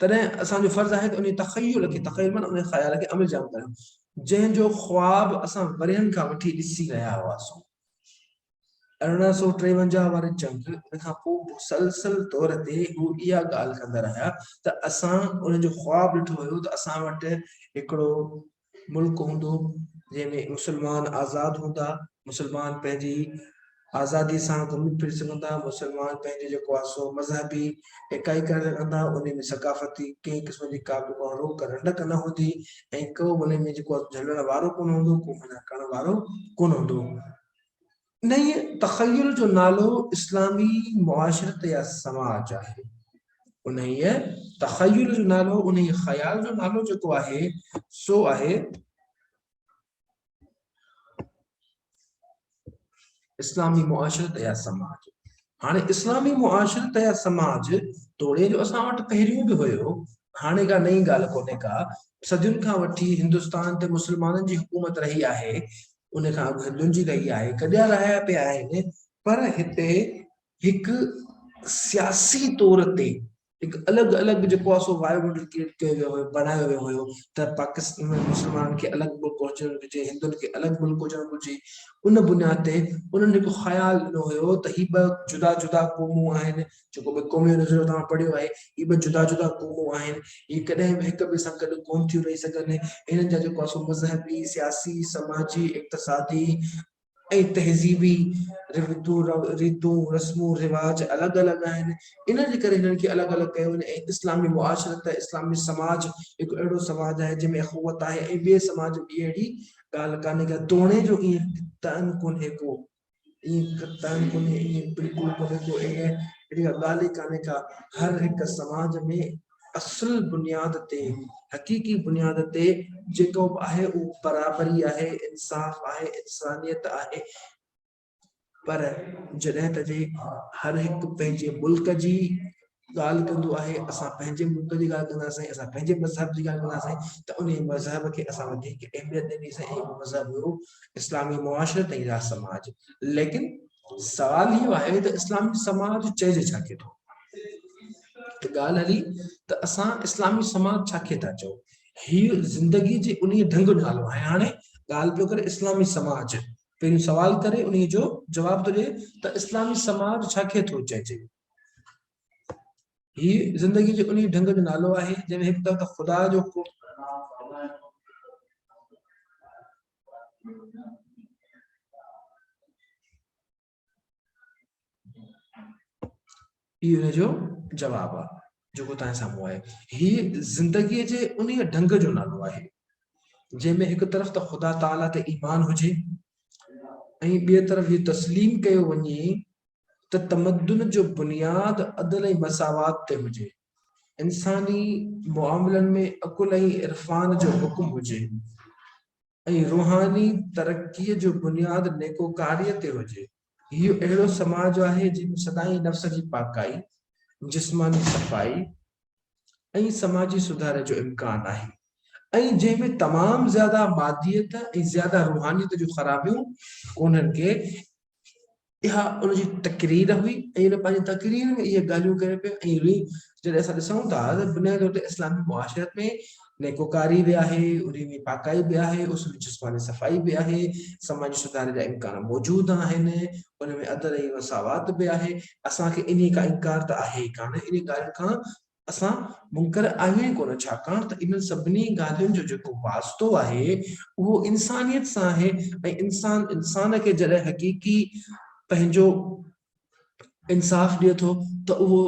[SPEAKER 1] تڏهن اسان جو فرض آهي ته ان تخيل کي تخيل معنی ان خيال کي عمل جام ڪريون جنهن جو خواب اسان ورهين کان وٺي ڏسي رهيا هئاسون ارڙهن سو ٽيونجاهه واري جنگ ان کان پوء مسلسل طور تي هو اها ڳالهه ڪندا رهيا ته اسان ان جو خواب ڏٺو هيو ته اسان وٽ هڪڙو ملڪ هوندو جنهن ۾ مسلمان آزاد هوندا، مسلمان پنهنجي آزادي سان گهمي ڦري سگهندا، مسلمان پنهنجو جيڪو آ سو مذهبي اڪائي ڪري رکندا، انهي ۾ ثقافتي ڪنهن قسم جي ڪا به ڪو روڪ رنڊڪ نه هوندي ۽ ڪو به انهي ۾ جيڪو آ سو جهلڻ وارو ڪونه هوندو، ڪو منع ڪرڻ وارو ڪونه هوندو. انهيء تخيل جو نالو اسلامي معاشرت يا سماج آهي. انهيء تخيل جو نالو، انهيء خيال جو نالو جيڪو آهي، سو آهي اسلامي معاشرت يا سماج. هاڻي اسلامي معاشرت يا سماج توڙي جو اسان وٽ پهريون به هيو، هاڻي ڪا نئين ڳالهه ڪونهي ڪا، صدين کان وٺي هندستان تي مسلمانن جي حڪومت رهي آهي، ان کان اڳ ڏنجي رهي آهي، گڏيا رهايا پيا آهن پر هتي هڪ سياسي طور تي هڪ الڳ الڳ جيڪو آهي سو وائبرنٽ ڪريٽ ڪيو ويو هيو بڻايو ويو هيو ته پاڪستان ۾ مسلمانن کي الڳ ملڪ هجڻ گهرجي هندن کي الڳ ملڪ هجڻ گهرجي ان بنياد تي انهن هڪ خيال ڏنو هيو ته هي ٻه جدا جدا قومون آهن جيڪو به قومي نظريو توهان پڙهيو آهي، هي ٻه جدا جدا قومون آهن، هي ڪڏهن به هڪ ٻئي سان گڏ ڪونه ٿيون رهي سگهن، هنن جا جيڪو سو مذهبي، سياسي، سماجي، اقتصادي ۽ تهذيبي ريتون ريتون، رسمون رواج الڳ الڳ آهن، ان جي ڪري هنن کي الڳ الڳ ڪيو وڃي ۽ اسلامي معاشرت، اسلامي سماج هڪ اهڙو سماج آهي جنهن ۾ اخوت آهي ۽ ٻئي سماج ۾ اهڙي ڳالهه ڪانهي ڪا توڻي جو ائين ته ان ڪونهي ڪو. ائين قطعاً ڪونهي، ائين بلڪل ڪونهي ڪو اهڙي اهڙي ڪا ڳالهه ئي ڪانهي ڪا، هر هڪ سماج ۾ اصل بنياد تي، حقيقي بنياد تي جيڪو به آهي اهو برابري آهي، انصاف آهي، انسانيت آهي پر جڏهن ته جي هر هڪ پنهنجي ملڪ جي ڳالهه ڪندو آهي اسان پنهنجي ملڪ جي ڳالهه ڪنداسين اسان پنهنجي مذهب جي ڳالهه ڪنداسين ته انهي مذهب کي اسان وڌيڪ اهميت ڏنيسين ۽ اهو مذهب هيو اسلامي معاشرت ۽ راز سماج ليڪن سوال اهو آهي ته اسلامي سماج چئجي ڇا کي ٿو ته ڳالهه هلي ته اسان اسلامي سماج ڇا کي ٿا چئون هي زندگي جي انهي ڍنگ جو نالو آهي هاڻي ڳالهه پيو ڪري اسلامي سماج پهريون سوال ڪري انهي جو جواب ٿو ڏي ته اسلامي سماج ڇا کي ٿو چئجي هي زندگي جي انهي ڍنگ جو نالو آهي، جنهن ۾ هڪ طرف ته خدا جو ڪو. هي ان جو جواب آهي جيڪو توهان سامهون آهي هي زندگي جي انهي ڍنگ جو نالو آهي جنهن ۾ هڪ طرف ته خدا تعالي تي ايمان هجي ۽ ٻي طرف هي تسليم ڪيو وڃي ته تمدن جو بنياد عدل ۽ مساوات تي هجي، انساني معاملن ۾ عقل ۽ عرفان جو حڪم هجي ۽ روحاني ترقيء جو بنياد نيڪوڪاريء تي هجي. اهو اهڙو سماج آهي جنهن ۾ سدائين نفس جي پاڪائي، جسماني صفائي ۽ سماجي سڌاري جو امڪان آهي ۽ جنهن ۾ تمام زياده ماديت ۽ زياده روحانيت جون خرابيون ڪونهن ڪي اها ان جي تقرير هئي ۽ هن پنهنجي تقرير ۾ اهي ڳالهيون ڪيون پيا ۽ ري جڏهن اسان ڏسون ٿا ته بنيادي طور تي اسلامي معاشرت ۾ نيڪوڪاري به آهي انهي ۾ پاڪائي به آهي اس ۾ جسماني صفائي به آهي سماجي سڌاري جا امڪان موجود آهن ان ۾ عدل ۽ مساوات به آهي اسان کي انهي کان انڪار ته آهي ئي ڪانه انهي ڳالهين کان اسان منڪر آهيون ئي ڪونه، ڇاڪاڻ ته انهن سڀني ڳالهين جو جيڪو واسطو آهي، اهو انسانيت سان آهي ۽ انسان انسان کي جڏهن حقيقي پنهنجو انصاف ڏئي ٿو ته اهو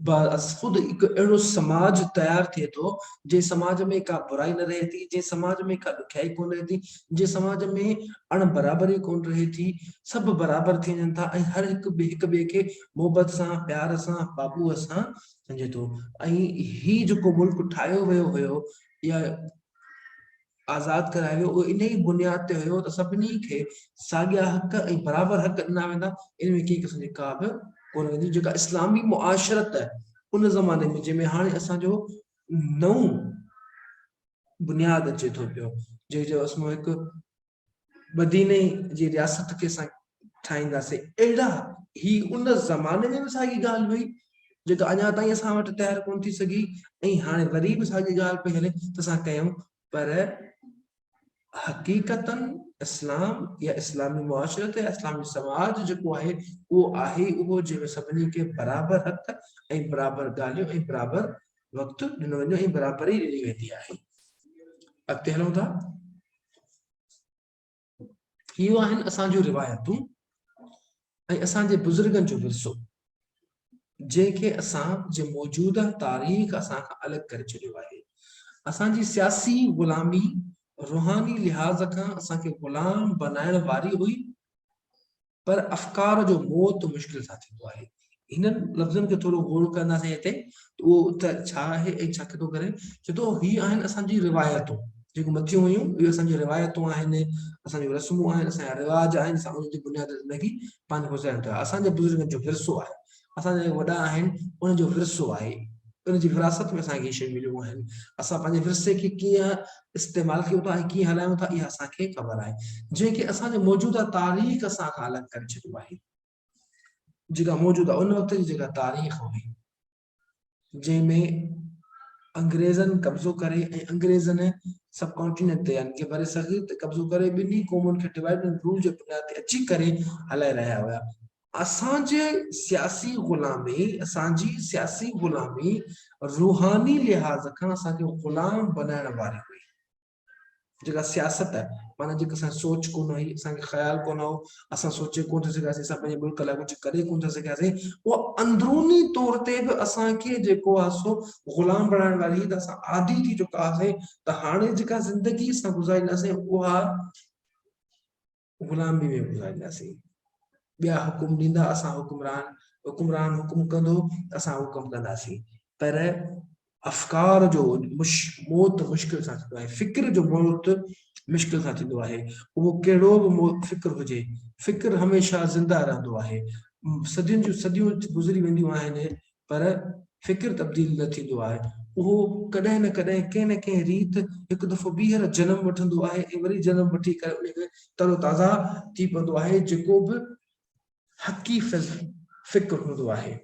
[SPEAKER 1] بعض خود هڪ اهڙو سماج تيار ٿئي ٿو، جنهن سماج ۾ ڪا برائي نه رهي ٿي، جنهن سماج ۾ ڪا ڏکيائي ڪونه رهي ٿي، جنهن سماج ۾ اڻ برابري ڪونه رهي ٿي، سڀ برابر ٿي وڃن ٿا ۽ هر هڪ هڪ ٻئي کي محبت سان، پيار سان، بابوء سان سمجهي ٿو ۽ هي جيڪو ملڪ ٺاهيو ويو هيو يا آزاد ڪرايو ويو اهو ان ئي بنياد تي هيو ته سڀني کي ساڳيا حق ۽ برابر حق ڏنا ويندا ان ۾ ڪنهن قسم جي ڪا به ڪونه ويندي جيڪا اسلامي معاشرت ان زماني ۾ جنهن ۾ هاڻي اسان جو نئون بنياد اچي ٿو پيو جنهن جو اسم هڪ مديني جي رياست کي اسان ٺاهينداسين اهڙا هي ان زماني ۾ به ساڳي ڳالهه هئي جيڪا اڃا تائين اسان وٽ تيار ڪون ٿي سگهي ۽ هاڻي وري به ساڳي ڳالهه پئي هلي ته اسان ڪيون پر حقيقتا اسلام يا اسلامي معاشرت يا اسلامي سماج جيڪو آهي اهو آهي اهو جنهن ۾ سڀني کي برابر حق ۽ برابر ڳالهيون ۽ برابر وقت ڏنو ويندو ۽ برابري ڏني ويندي آهي اڳتي هلون ٿا اهو آهن اسان جون روايتون ۽ اسان جي بزرگن جو ورثو جنهن کي اسان جي موجوده تاريخ اسان کان الڳ ڪري ڇڏيو آهي اسان جي سياسي غلامي روحاني لحاظ کان اسان کي غلام بنائڻ واري هئي پر افڪار جو موت مشڪل سان ٿيندو آهي. هنن لفظن کي ٿورو غور ڪنداسين هتي ته اهو ته ڇا آهي ۽ ڇا ڪٿو ڪري. چئي ٿو هي آهن اسان جي روايتون جيڪو مٿيون هيون اهي اسان جون روايتون آهن، اسان جون رسمون آهن، اسان جا رواج آهن جن سان انهن جي بنياد زندگي پنهنجي گذاريون ٿا. اسان جي بزرگن جو ورثو آهي. اسان جا جيڪي وڏا آهن ان جو ورثو آهي ان جي وراثت ۾ اسان کي هي شيون مليون آهن اسان پنهنجي ورثي کي ڪيئن استعمال ڪيون ٿا ۽ ڪيئن هلايون ٿا اها اسان کي خبر آهي جنهن کي اسان جي موجوده تاريخ سان کان الڳ ڪري ڇڏيو آهي جيڪا موجوده ان وقت جي جيڪا تاريخ هئي جنهن ۾ انگريزن قبضو ڪري ۽ انگريزن سب ڪانٽيننٽ تي يعني ڪي بري صغير تي قبضو ڪري ٻنهي قومن کي ڊيوائيڊ اينڊ رول جي بنياد تي اچي ڪري هلائي رهيا هيا اسان جي سياسي غلامي، اسان جي سياسي غلامي روحاني لحاظ کان اسان کي غلام بنائڻ واري هئي. جيڪا سياست معنيٰ جيڪا اسان سوچ ڪونه هئي، اسان کي خيال ڪونه هو، اسان سوچي ڪونه ٿي سگهياسين، اسان پنهنجي ملڪ لاء ڪجهه ڪري ڪونه ٿي سگهياسين، اها اندروني طور تي به اسان کي جيڪو آهي سو غلام بنائڻ واري هئي ته اسان عادي ٿي چڪا هئاسين ته هاڻي جيڪا زندگي اسان گذارينداسين اها غلامي ۾ گذارينداسين. ٻيا حڪم ڏيندا اسان حڪمران، حڪمران حڪم ڪندو اسان حڪم ڪنداسين. پر افڪار جو موت مشڪل سان ٿيندو آهي، فڪر جو موت مشڪل سان ٿيندو آهي. اهو ڪهڙو به فڪر هجي، فڪر هميشه زنده رهندو آهي. صدين جون صديون گذري وينديون آهن، پر فڪر تبديل نه ٿيندو آهي، اهو ڪڏهن نه ڪڏهن ڪنهن نه ڪنهن ريت هڪ دفعو ٻيهر جنم وٺندو آهي ۽ وري جنم وٺي ڪري انهيء کي تر و تازه ٿي پوندو آهي جيڪو به حقي فڪر هوندو آهي،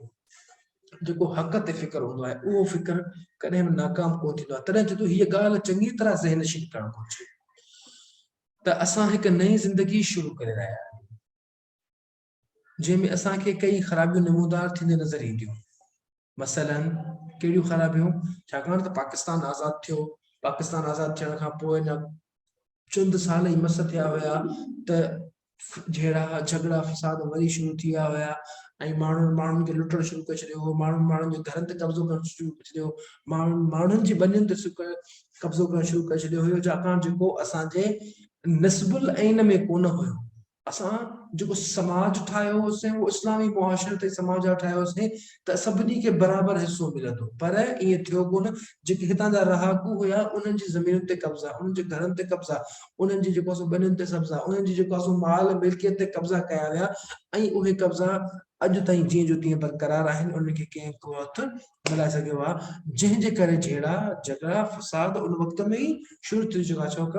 [SPEAKER 1] جيڪو حق تي فڪر هوندو آهي، اهو فڪر ڪڏهن به ناڪام ڪونه ٿيندو آهي، تڏهن چئي ٿو هيء ڳالهه چڱي طرح ذهن نشين ڪرڻ گهرجي ته اسان هڪ نئين زندگي شروع ڪري رهيا آهيون. جنهن ۾ اسان کي ڪيئي خرابيون نمودار ٿينديون نظر اينديون. مثلاً ڪهڙيون خرابيون؟ ڇاڪاڻ ته پاڪستان آزاد ٿيو، پاڪستان آزاد ٿيڻ کان پوء اڃا چند سال ئي مس ٿيا هيا ته جهيڙا، جهڳڙا، فساد وري شروع ٿي ويا هيا ۽ ماڻهن ماڻهن کي لٽڻ شروع ڪري ڇڏيو هو، ماڻهن ماڻهن جي گهرن تي قبضو ڪرڻ شروع ڪري ڇڏيو هو، ماڻهن ماڻهن جي ٻنين تي قبضو ڪرڻ شروع ڪري ڇڏيو هيو، ڇاڪاڻ جيڪو اسان جي نصب العين ۾ ڪونه هيو. اسان جيڪو سماج ٺاهيو هوسين اهو اسلامي معاشرت ۽ سماج لاء ٺاهيو هوسين ته سڀني کي برابر حصو ملندو پر ائين ٿيو ڪونه جيڪي هتان جا رهاڪو هيا انهن جي زمينن تي قبضا انهن جي گهرن تي قبضا انهن جي جيڪو سو ٻنين تي قبضا انهن جي جيڪو سو مال ملڪيت تي قبضا ڪيا ويا ۽ اهي قبضا اڄ تائين جيئن جو تيئن برقرار آهن انهن کي ڪنهن ڪو هٿ ڳالهائي سگهيو ها جنهن جي ڪري جهيڙا جهڳڙا فساد ان وقت ۾ ئي شروع ٿي چڪا ڇوڪ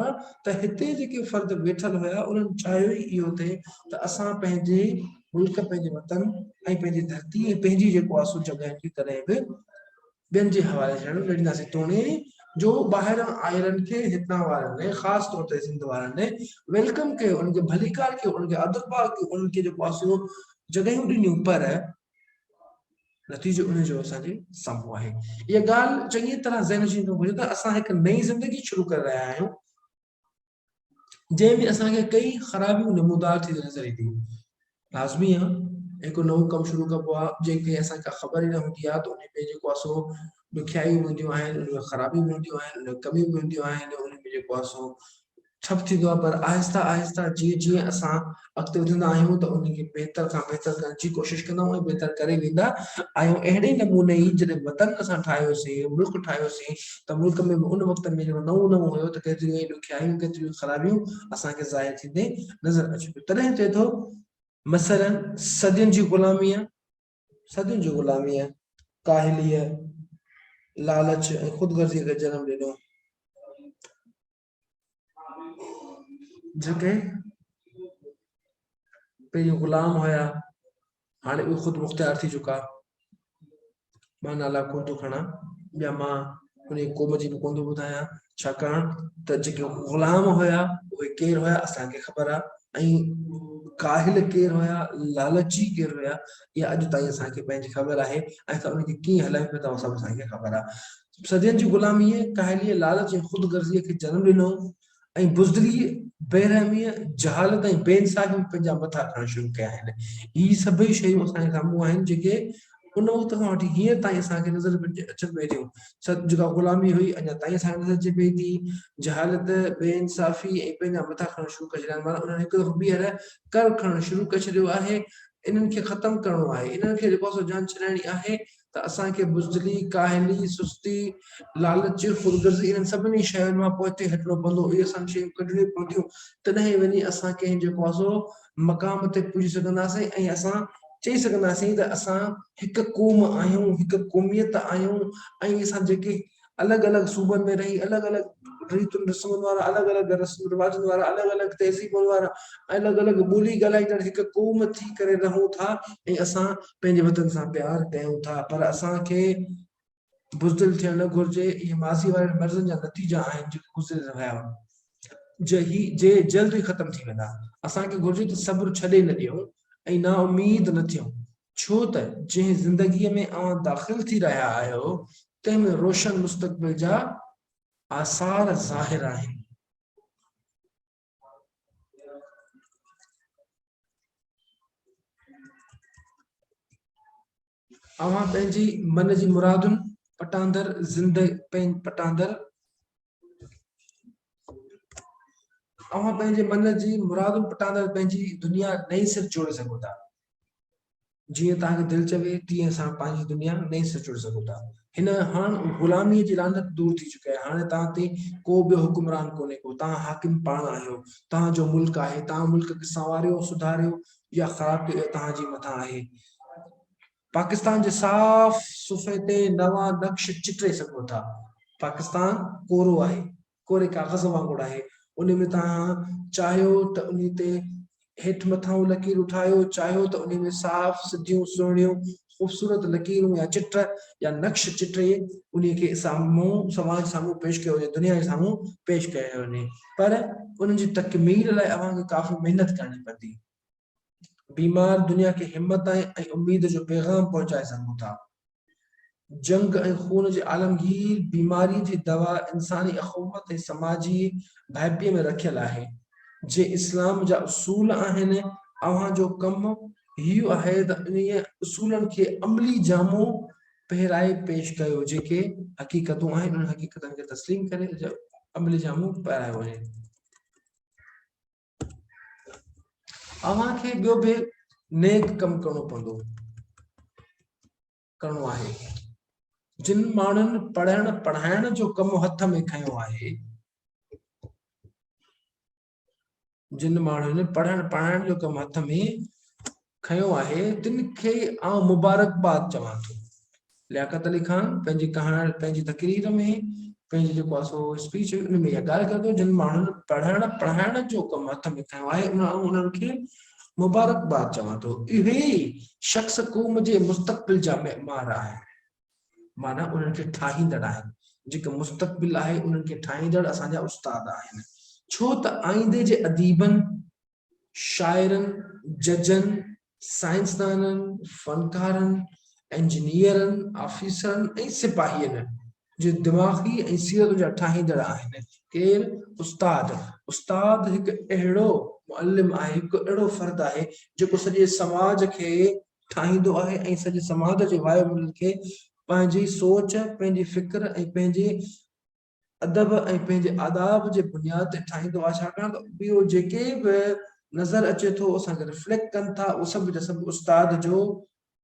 [SPEAKER 1] ته هتي جيڪي فرد ويٺل هيا انهن چاهيو ئي اهو ٿي ته اسان پنهنجي ملڪ پنهنجي وطن ۽ پنهنجي ڌرتي ۽ پنهنجي جيڪو آسو جڳهين کي ڪڏهن به ٻين جي حوالي ٿيڻ نه ڏينداسين توڻي جو ٻاهران آيلن کي هتان وارن ۽ خاص طور تي سنڌ وارن ويلڪم ڪيو انهن کي ڀليڪار ڪيو انهن کي ادببار ڪيو انهن کي جيڪو آسو جڳهيون ڏنيون پر نتيجو ان جو اسان جي سامهون آهي. اها ڳالهه چڱي طرح ذهن جي هجڻ گهرجي ته اسان هڪ نئين زندگي شروع ڪري رهيا آهيون جنهن ۾ اسان کي ڪئي خرابيون نمودار ٿينديون نظر اينديون لازمي آهي هڪ نئون ڪم شروع ڪبو آهي جنهن کي اسان کي خبر ئي نه هوندي آهي ته ان ۾ جيڪو اسو ڏکيائيون هونديون آهن ان ۾ خرابيون هونديون آهن ان ۾ ڪميون هونديون آهن ان ۾ جيڪو اسو ٺپ ٿيندو آهي پر آهستي آهستي جيئن جيئن اسان اڳتي وڌندا آهيون ته ان کي بهتر کان بهتر ڪرڻ جي ڪوشش ڪندا آهيون ۽ بهتر ڪري ويندا آهيون اهڙي نموني ئي جڏهن وطن اسان ٺاهيوسين ملڪ ٺاهيوسين ته ملڪ ۾ به ان وقت ۾ جڏهن نئون نئون هيو ته ڪيتريون ئي ڏکيائيون ڪيتريون ئي خرابيون اسان کي ظاهر ٿيندي نظر اچي پيو تڏهن چئي ٿو مثلاً صدين جي غلاميء صدين جي غلاميء ڪاهليء لالچ ۽ خود غرضيء کي جنم ڏنو جيڪي پهريون غلام هيا هاڻي اهي خود مختيار ٿي چڪا مان نالا ڪو ٿو کڻا يا مان ان قوم جي به ڪو ٿو ٻڌايان ڇاڪاڻ ته جيڪي غلام هيا اهي ڪير هيا اسانکي خبر آهي ۽ ڪاهل ڪير هيا لالچي ڪير هيا اها اڄ تائين اسانکي پنهنجي خبر آهي ۽ اسان ان کي ڪيئن هلايون پيا ٿا سڀ اسانکي خبر آهي صدين جي غلاميء، ڪاهليء، لالچ ۽ خود غرضيء کي جنم ڏنو ۽ بزدليء، بي رحميء، جهالت ۽ بي انصافيء ۾ پنهنجا مٿا کڻڻ شروع ڪيا آهن. اهي سڀئي شيون اسان جي سامهون آهن جيڪي ان وقت کان وٺي هينئر تائين اسان کي نظر ۾ اچن پيون ٿيون. جيڪا غلامي هئي اڃا تائين اسان کي نظر اچي پئي ٿي. جهالت، بي انصافي ۽ پنهنجا مٿا کڻڻ شروع ڪري ڇڏيا آهن. انهن هڪ دفعو ٻيهر ڪر کڻڻ شروع ڪري ڇڏيو آهي. انهن کي ختم ڪرڻو آهي. انهن کي جيڪو آسان جان ڇڏائڻي آهي ته اسان کي بزدلي، ڪاهلي، سستي، لالچ، خودغرضي انهن سڀني شين مان پوئتي هٽڻو پوندو، اهي سڀ شيون ڪڍڻيون پونديون، تڏهن ئي وڃي اسان ڪنهن جيڪو آسو مقام تي پڄي سگهنداسين ۽ اسان چئي سگهنداسين ته اسان هڪ قوم آهيون، هڪ قوميت آهيون ۽ اسان جيڪي الڳ الڳ صوبن ۾ رهي الڳ الڳ ريتن رسمن وارا الڳ الڳ رسم رواجن وارا الڳ الڳ تهذيبن وارا الڳ الڳ ٻولي ڳالهائيندڙ هڪ قوم ٿي ڪري رهون ٿا ۽ اسان پنهنجي وطن سان پيار ڪيون ٿا پر اسان کي بزدل ٿيڻ نه گهرجي اهي ماضي وارن مرضن جا نتيجا آهن جيڪي گذري رهيا جي جي جلد ئي ختم ٿي ويندا اسان کي گهرجي ته صبر ڇڏي نه ڏيون ۽ نا اميد نه ٿيون ڇو ته جنهن زندگيء ۾ اوهان داخل ٿي رهيا آهيو، تنهن ۾ روشن مستقبل جا آثار ظاهر آهن. اوهان پنهنجي من جي مرادن پٽاندر زندگي پٽاندر اوهان پنهنجي من جي مرادون پٽاندڙ پنهنجي دنيا نئين سر جوڙي سگهو ٿا جيئن توهان کي دل چوي تيئن اسان پنهنجي دنيا نئين سر جوڙي سگهو ٿا هن هاڻ غلامي جي لانت دور ٿي چڪي آهي هاڻي توهان تي ڪو به حڪمران ڪونهي ڪو توهان حاڪم پاڻ آهيو توهان جو ملڪ آهي توهان ملڪ کي سنواريو سڌاريو يا خراب ڪيو توهان جي مٿان آهي پاڪستان جي صاف صفحي تي نوان نقش چٽي سگهو ٿا. پاڪستان ڪورو آهي، ڪوري ڪاغذ وانگر آهي، انهي ۾ توهان چاهيو ته انهي تي هيٺ مٿانهون لڪيرون ٺاهيو، چاهيو ته انهي ۾ صاف، سڌيون، سهڻيون، خوبصورت لڪيرون يا چٽ يا نقش چٽي انهي کي سامهون سماج سامهون پيش ڪيو وڃي، دنيا جي سامهون پيش ڪيو وڃي پر ان جي تڪميل لاء اوهان کي ڪافي محنت ڪرڻي پوندي. بيمار دنيا کي همت ۽ اميد جو پيغام پهچائي سگهون ٿا. جنگ ۽ خون جي عالمگير بيماري جي دوا انساني اخوت ۽ سماجي ڀائپي ۾ رکيل آهي. جي اسلام جا اصول آهن، اوهان جو ڪم هي آهي ته انهي اصولن کي عملي جامو پهرائي پيش ڪيو، جيڪي حقيقتون آهن انهن حقيقتن کي تسليم ڪري عملي جامو پهرايو وڃي. اوهان کي ٻيو به نيڪ ڪم ڪرڻو پوندو ڪرڻو آهي جن ماڻهن پڙهڻ پڙهائڻ جو ڪم هٿ ۾ کنيو آهي جن ماڻهن پڙهڻ پڙهائڻ جو ڪم هٿ ۾ کنيو آهي تن کي آئون مبارڪباد چوان ٿو. لياقت علي خان پنهنجي ڪهاڻ پنهنجي تقرير ۾ پنهنجي جيڪو آهي سو اسپيچ هئي ان ۾ اها ڳالهه ڪيو جن ماڻهن پڙهڻ پڙهائڻ جو ڪم هٿ ۾ کنيو آهي ان آئون انهن کي مبارڪباد چوان ٿو اهي ئي شخص قوم جي مستقبل جا معمار آهن معنيٰ انهن کي ٺاهيندڙ آهن جيڪو مستقبل آهي انهن کي ٺاهيندڙ اسان جا استاد آهن ڇو ته آئيندي جي اديبن شاعرن، ججن، سائنسدانن، فنڪارن، انجنيئرن، آفيسرن ۽ سپاهين جي دماغي ۽ سيرت جا ٺاهيندڙ آهن. ڪير؟ استاد. استاد هڪ اهڙو معلم آهي، هڪ اهڙو فرد آهي، جيڪو سڄي سماج کي ٺاهيندو آهي ۽ سڄي سماج جي وايو ملن کي پنهنجي سوچ، پنهنجي فڪر ۽ پنهنجي ادب ۽ پنهنجي آداب جي بنياد تي ٺاهيندو آهي ڇاڪاڻ ته اهو جيڪي به نظر اچي ٿو اسان کي ريفليڪٽ ڪن ٿا اهي سڀ جا سڀ استاد جو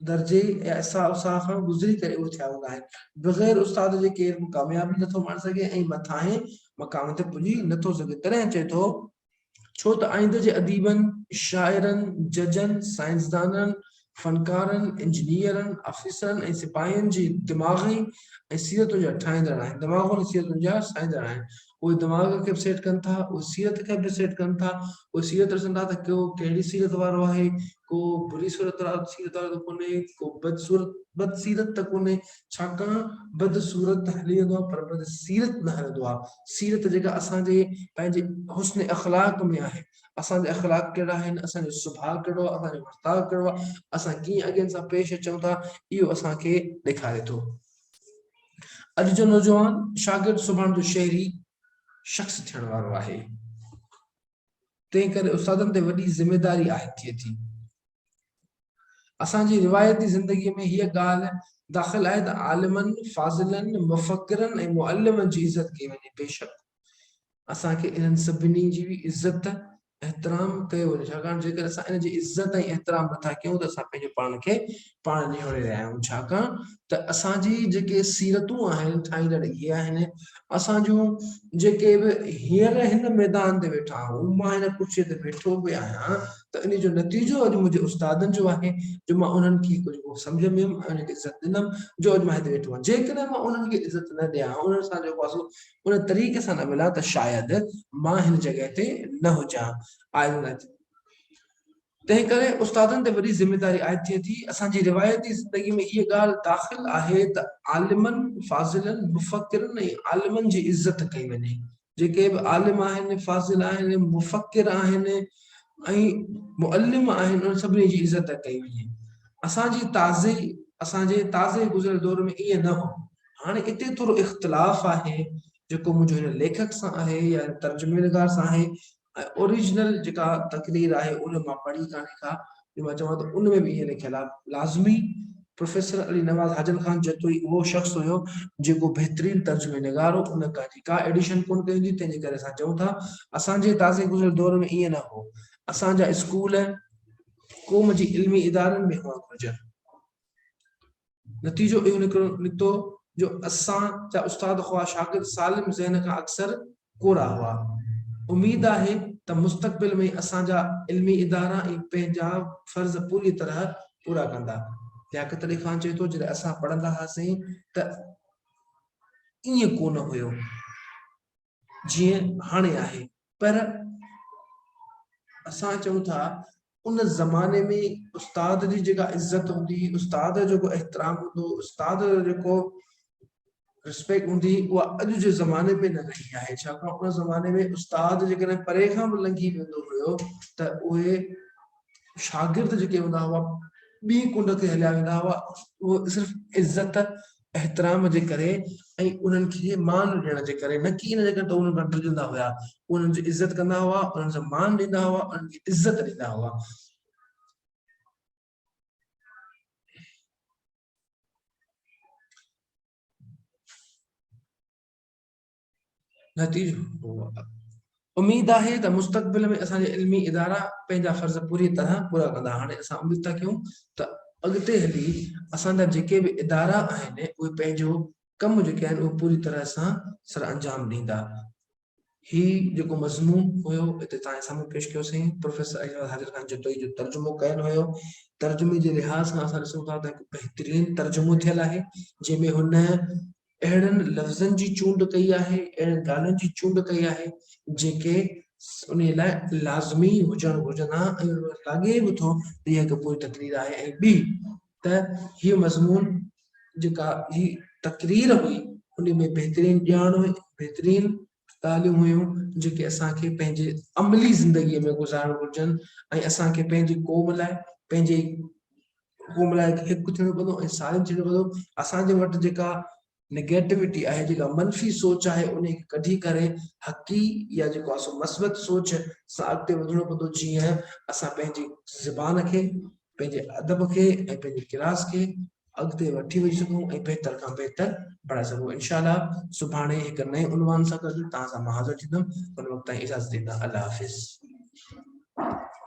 [SPEAKER 1] درجي يا اسا اسا کان گذري ڪري اهي ٿيا هوندا آهن بغير استاد جي ڪير به ڪاميابي نٿو ماڻي سگهي ۽ مٿاهين مقام تي پڄي نٿو سگهي تڏهن چئي ٿو ڇو ته آئنده جي اديبن، شاعرن، ججن، سائنسدانن، فنڪارن، انجنيئرن، آفيسرن ۽ سپاهين جي دماغ ۽ سيرتن جا ٺاهيندڙ آهن، دماغن ۽ سيرتن جا سائيندڙ آهن. اهي دماغ کي به سيٽ ڪن ٿا، اهي سيرت کي به سيٽ ڪن ٿا، اهي سيرت ڏسن ٿا ته ڪو ڪهڙي سيرت وارو آهي، ڪو بري صورت صيرت وارو ته ڪونهي، ڪو بد صورت بد سيرت ته ڪونهي، ڇاڪاڻ بد صورت ته هلي ويندو آهي پر بد سيرت نه هلندو آهي، سيرت جيڪا اسان جي پنهنجي حسن اخلاق ۾ آهي، اسان جا اخلاق ڪهڙا آهن، اسان جو سڀاء ڪهڙو آهي، اسان جو ورتاء ڪهڙو آهي، اسان ڪيئن اڳين سان پيش اچون ٿا، اهو اسان کي ڏيکاري ٿو. اڄ جو نوجوان شاگرد سڀاڻ جو شهري شخص ٿيڻ وارو آهي. تنهن ڪري استادن تي وڏي ذميداري عائد ٿئي ٿي. اسان جي روايتي زندگيء ۾ هيء ڳالهه داخل آهي ته عالمن، فاضلن، مفڪرن ۽ معلمن جي عزت ڪئي وڃي. بيشڪ اسان کي انهن سڀني جي به عزت، احترام، ڪيو وڃي ڇاڪاڻ جيڪڏهن اسان انهن جي عزت ۽ احترام نٿا ڪيون ته اسان پنهنجو پاڻ کي پاڻ نهاڻي رهيا آهيون ڇاڪاڻ ته اسان جي جيڪي سيرتون آهن ٺاهيندڙ اهي آهن اسان جون جيڪي به هينئر هن ميدان تي ويٺا آهيون مان هن ڪرسي تي ويٺو به آهيان ته انهي جو نتيجو اڄ منهنجي استادن جو آهي جو مان انهن کي ڪجهه سمجهه ۾ هيم ۽ انهن کي عزت ڏنم جو اڄ مان هتي ويٺو آهيان جيڪڏهن مان انهن کي عزت نه ڏيان ها انهن سان جيڪو واسطو ان طريقي سان نه ملان ته شايد مان هن جڳهه تي نه هجان آء تنهن ڪري استادن تي وڏي ذميواري عائد ٿئي ٿي. اسان جي روايتي زندگي ۾ هيء ڳالهه داخل آهي ته عالمن، فاضلن، مفڪرن ۽ عالمن جي عزت ڪئي وڃي. جيڪي به عالم آهن، فاضل آهن، مفڪر آهن ۽ معلم آهن انهن سڀني جي عزت ڪئي وڃي. اسان جي تازي اسان جي تازي گذريل دور ۾ ائين نه هو. هاڻي اتي ٿورو اختلاف آهي جيڪو منهنجو هن ليکڪ سان آهي يا هن ترجمي نگار سان آهي ۽ اوريجنل جيڪا تقرير آهي ان مان پڙهي ڪانهي ڪا جو مان چوان ته ان ۾ به ائين لکيل آهي لازمي پروفيسر علي نواز حاجن خان جتو ئي اهو شخص هيو جيڪو بهترين ترجمي نگار هو ان ڪا جي ڪا ايڊيشن ڪونه ڪئي هوندي تنهن جي ڪري اسان چئون ٿا اسان جي تازي گذريل دور ۾ ائين نه هو اسان جا اسڪول قوم جي علمي ادارن ۾ هئڻ گهرجن. نتيجو اهو نڪتو جو اسان جا استاد خواه شاگرد سالم ذهن کان اڪثر ڪورا هئا. اميد آهي ته مستقبل ۾ اسان جا علمي ادارا ۽ پنهنجا فرض پوريء طرح پورا ڪندا. لياقت علي خان چئي ٿو جڏهن اسان پڙهندا هئاسين ته ائين ڪونه هيو. جيئن هاڻي آهي پر اسان چئون ٿا ان زماني ۾ استاد جي جيڪا عزت هوندي استاد جو جيڪو احترام هوندو استاد جو جيڪو رسپيڪٽ هوندي اها اڄ جي زماني ۾ نه رهي آهي ڇاڪاڻ ان زماني ۾ استاد جيڪڏهن پري کان به لنگهي ويندو هيو ته اهي شاگرد جيڪي هوندا هئا ٻي ڪنڊ تي هليا ويندا هئا اهو صرف عزت احترام جي ڪري ۽ انهن کي مان ڏيڻ جي ڪري نه ڪي ان جي ڪري ته انهن کان ڊڄندا هيا هو انهن جي عزت ڪندا هئا انهن جو مان ڏيندا هئا انهن کي عزت ڏيندا هئا. نتيجو اميد آهي ته مستقبل ۾ اسان جا علمي ادارا پنهنجا فرض پوري طرح پورا ڪندا هاڻي اسان اميد ٿا ڪيون ته اڳتي هلي اسان جا جيڪي به ادارا آهن اهي پنهنجو ڪم جيڪي آهن اهو پوري طرح سان سر انجام ڏيندا هي جيڪو مضمون هيو هتي تان سامهون پيش ڪيو سين پروفيسر اجمل حاضر خان جتوئي جو ترجمو ڪيل هيو ترجمي جي لحاظ سان اسان ڏسون ٿا ته هڪ بهترين ترجمو ٿيل آهي جنهن ۾ هن اهڙن لفظن جي چونڊ ڪئي آهي، اهڙين ڳالهين جي چونڊ ڪئي آهي، جيڪي انهيء لاء لازمي هجڻ گهرجن ها ۽ ان مان لاڳي به ٿو ته اها هڪ پوري تقرير آهي ۽ ٻي ته هيء مضمون جيڪا هي تقرير هئي، انهيء ۾ بهترين ڄاڻ هئي، بهترين ڳالهيون هيون جيڪي اسان کي پنهنجي عملي زندگي ۾ گذارڻ گهرجن ۽ اسان کي پنهنجي قوم لاء پنهنجي قوم لاء هڪ ٿيڻو پوندو ۽ سالم ٿيڻو پوندو اسان جي وٽ جيڪا نيگيٽوٽي آهي جيڪا منفي سوچ آهي ان کي ڪڍي ڪري حقي يا جيڪو اسو مثبت سوچ سان اڳتي وڌڻو پوندو جيئن اسان پنهنجي زبان کي پنهنجي ادب کي ۽ پنهنجي ڪلاس کي اڳتي وٺي وڃي سگهون ۽ بهتر کان بهتر بڻائي سگهون انشاء الله سڀاڻي هڪ نئين عنوان سان گڏ توهان سان مان حاضر ٿيندم ان وقت تائين اجازت ڏيندا الله حافظ.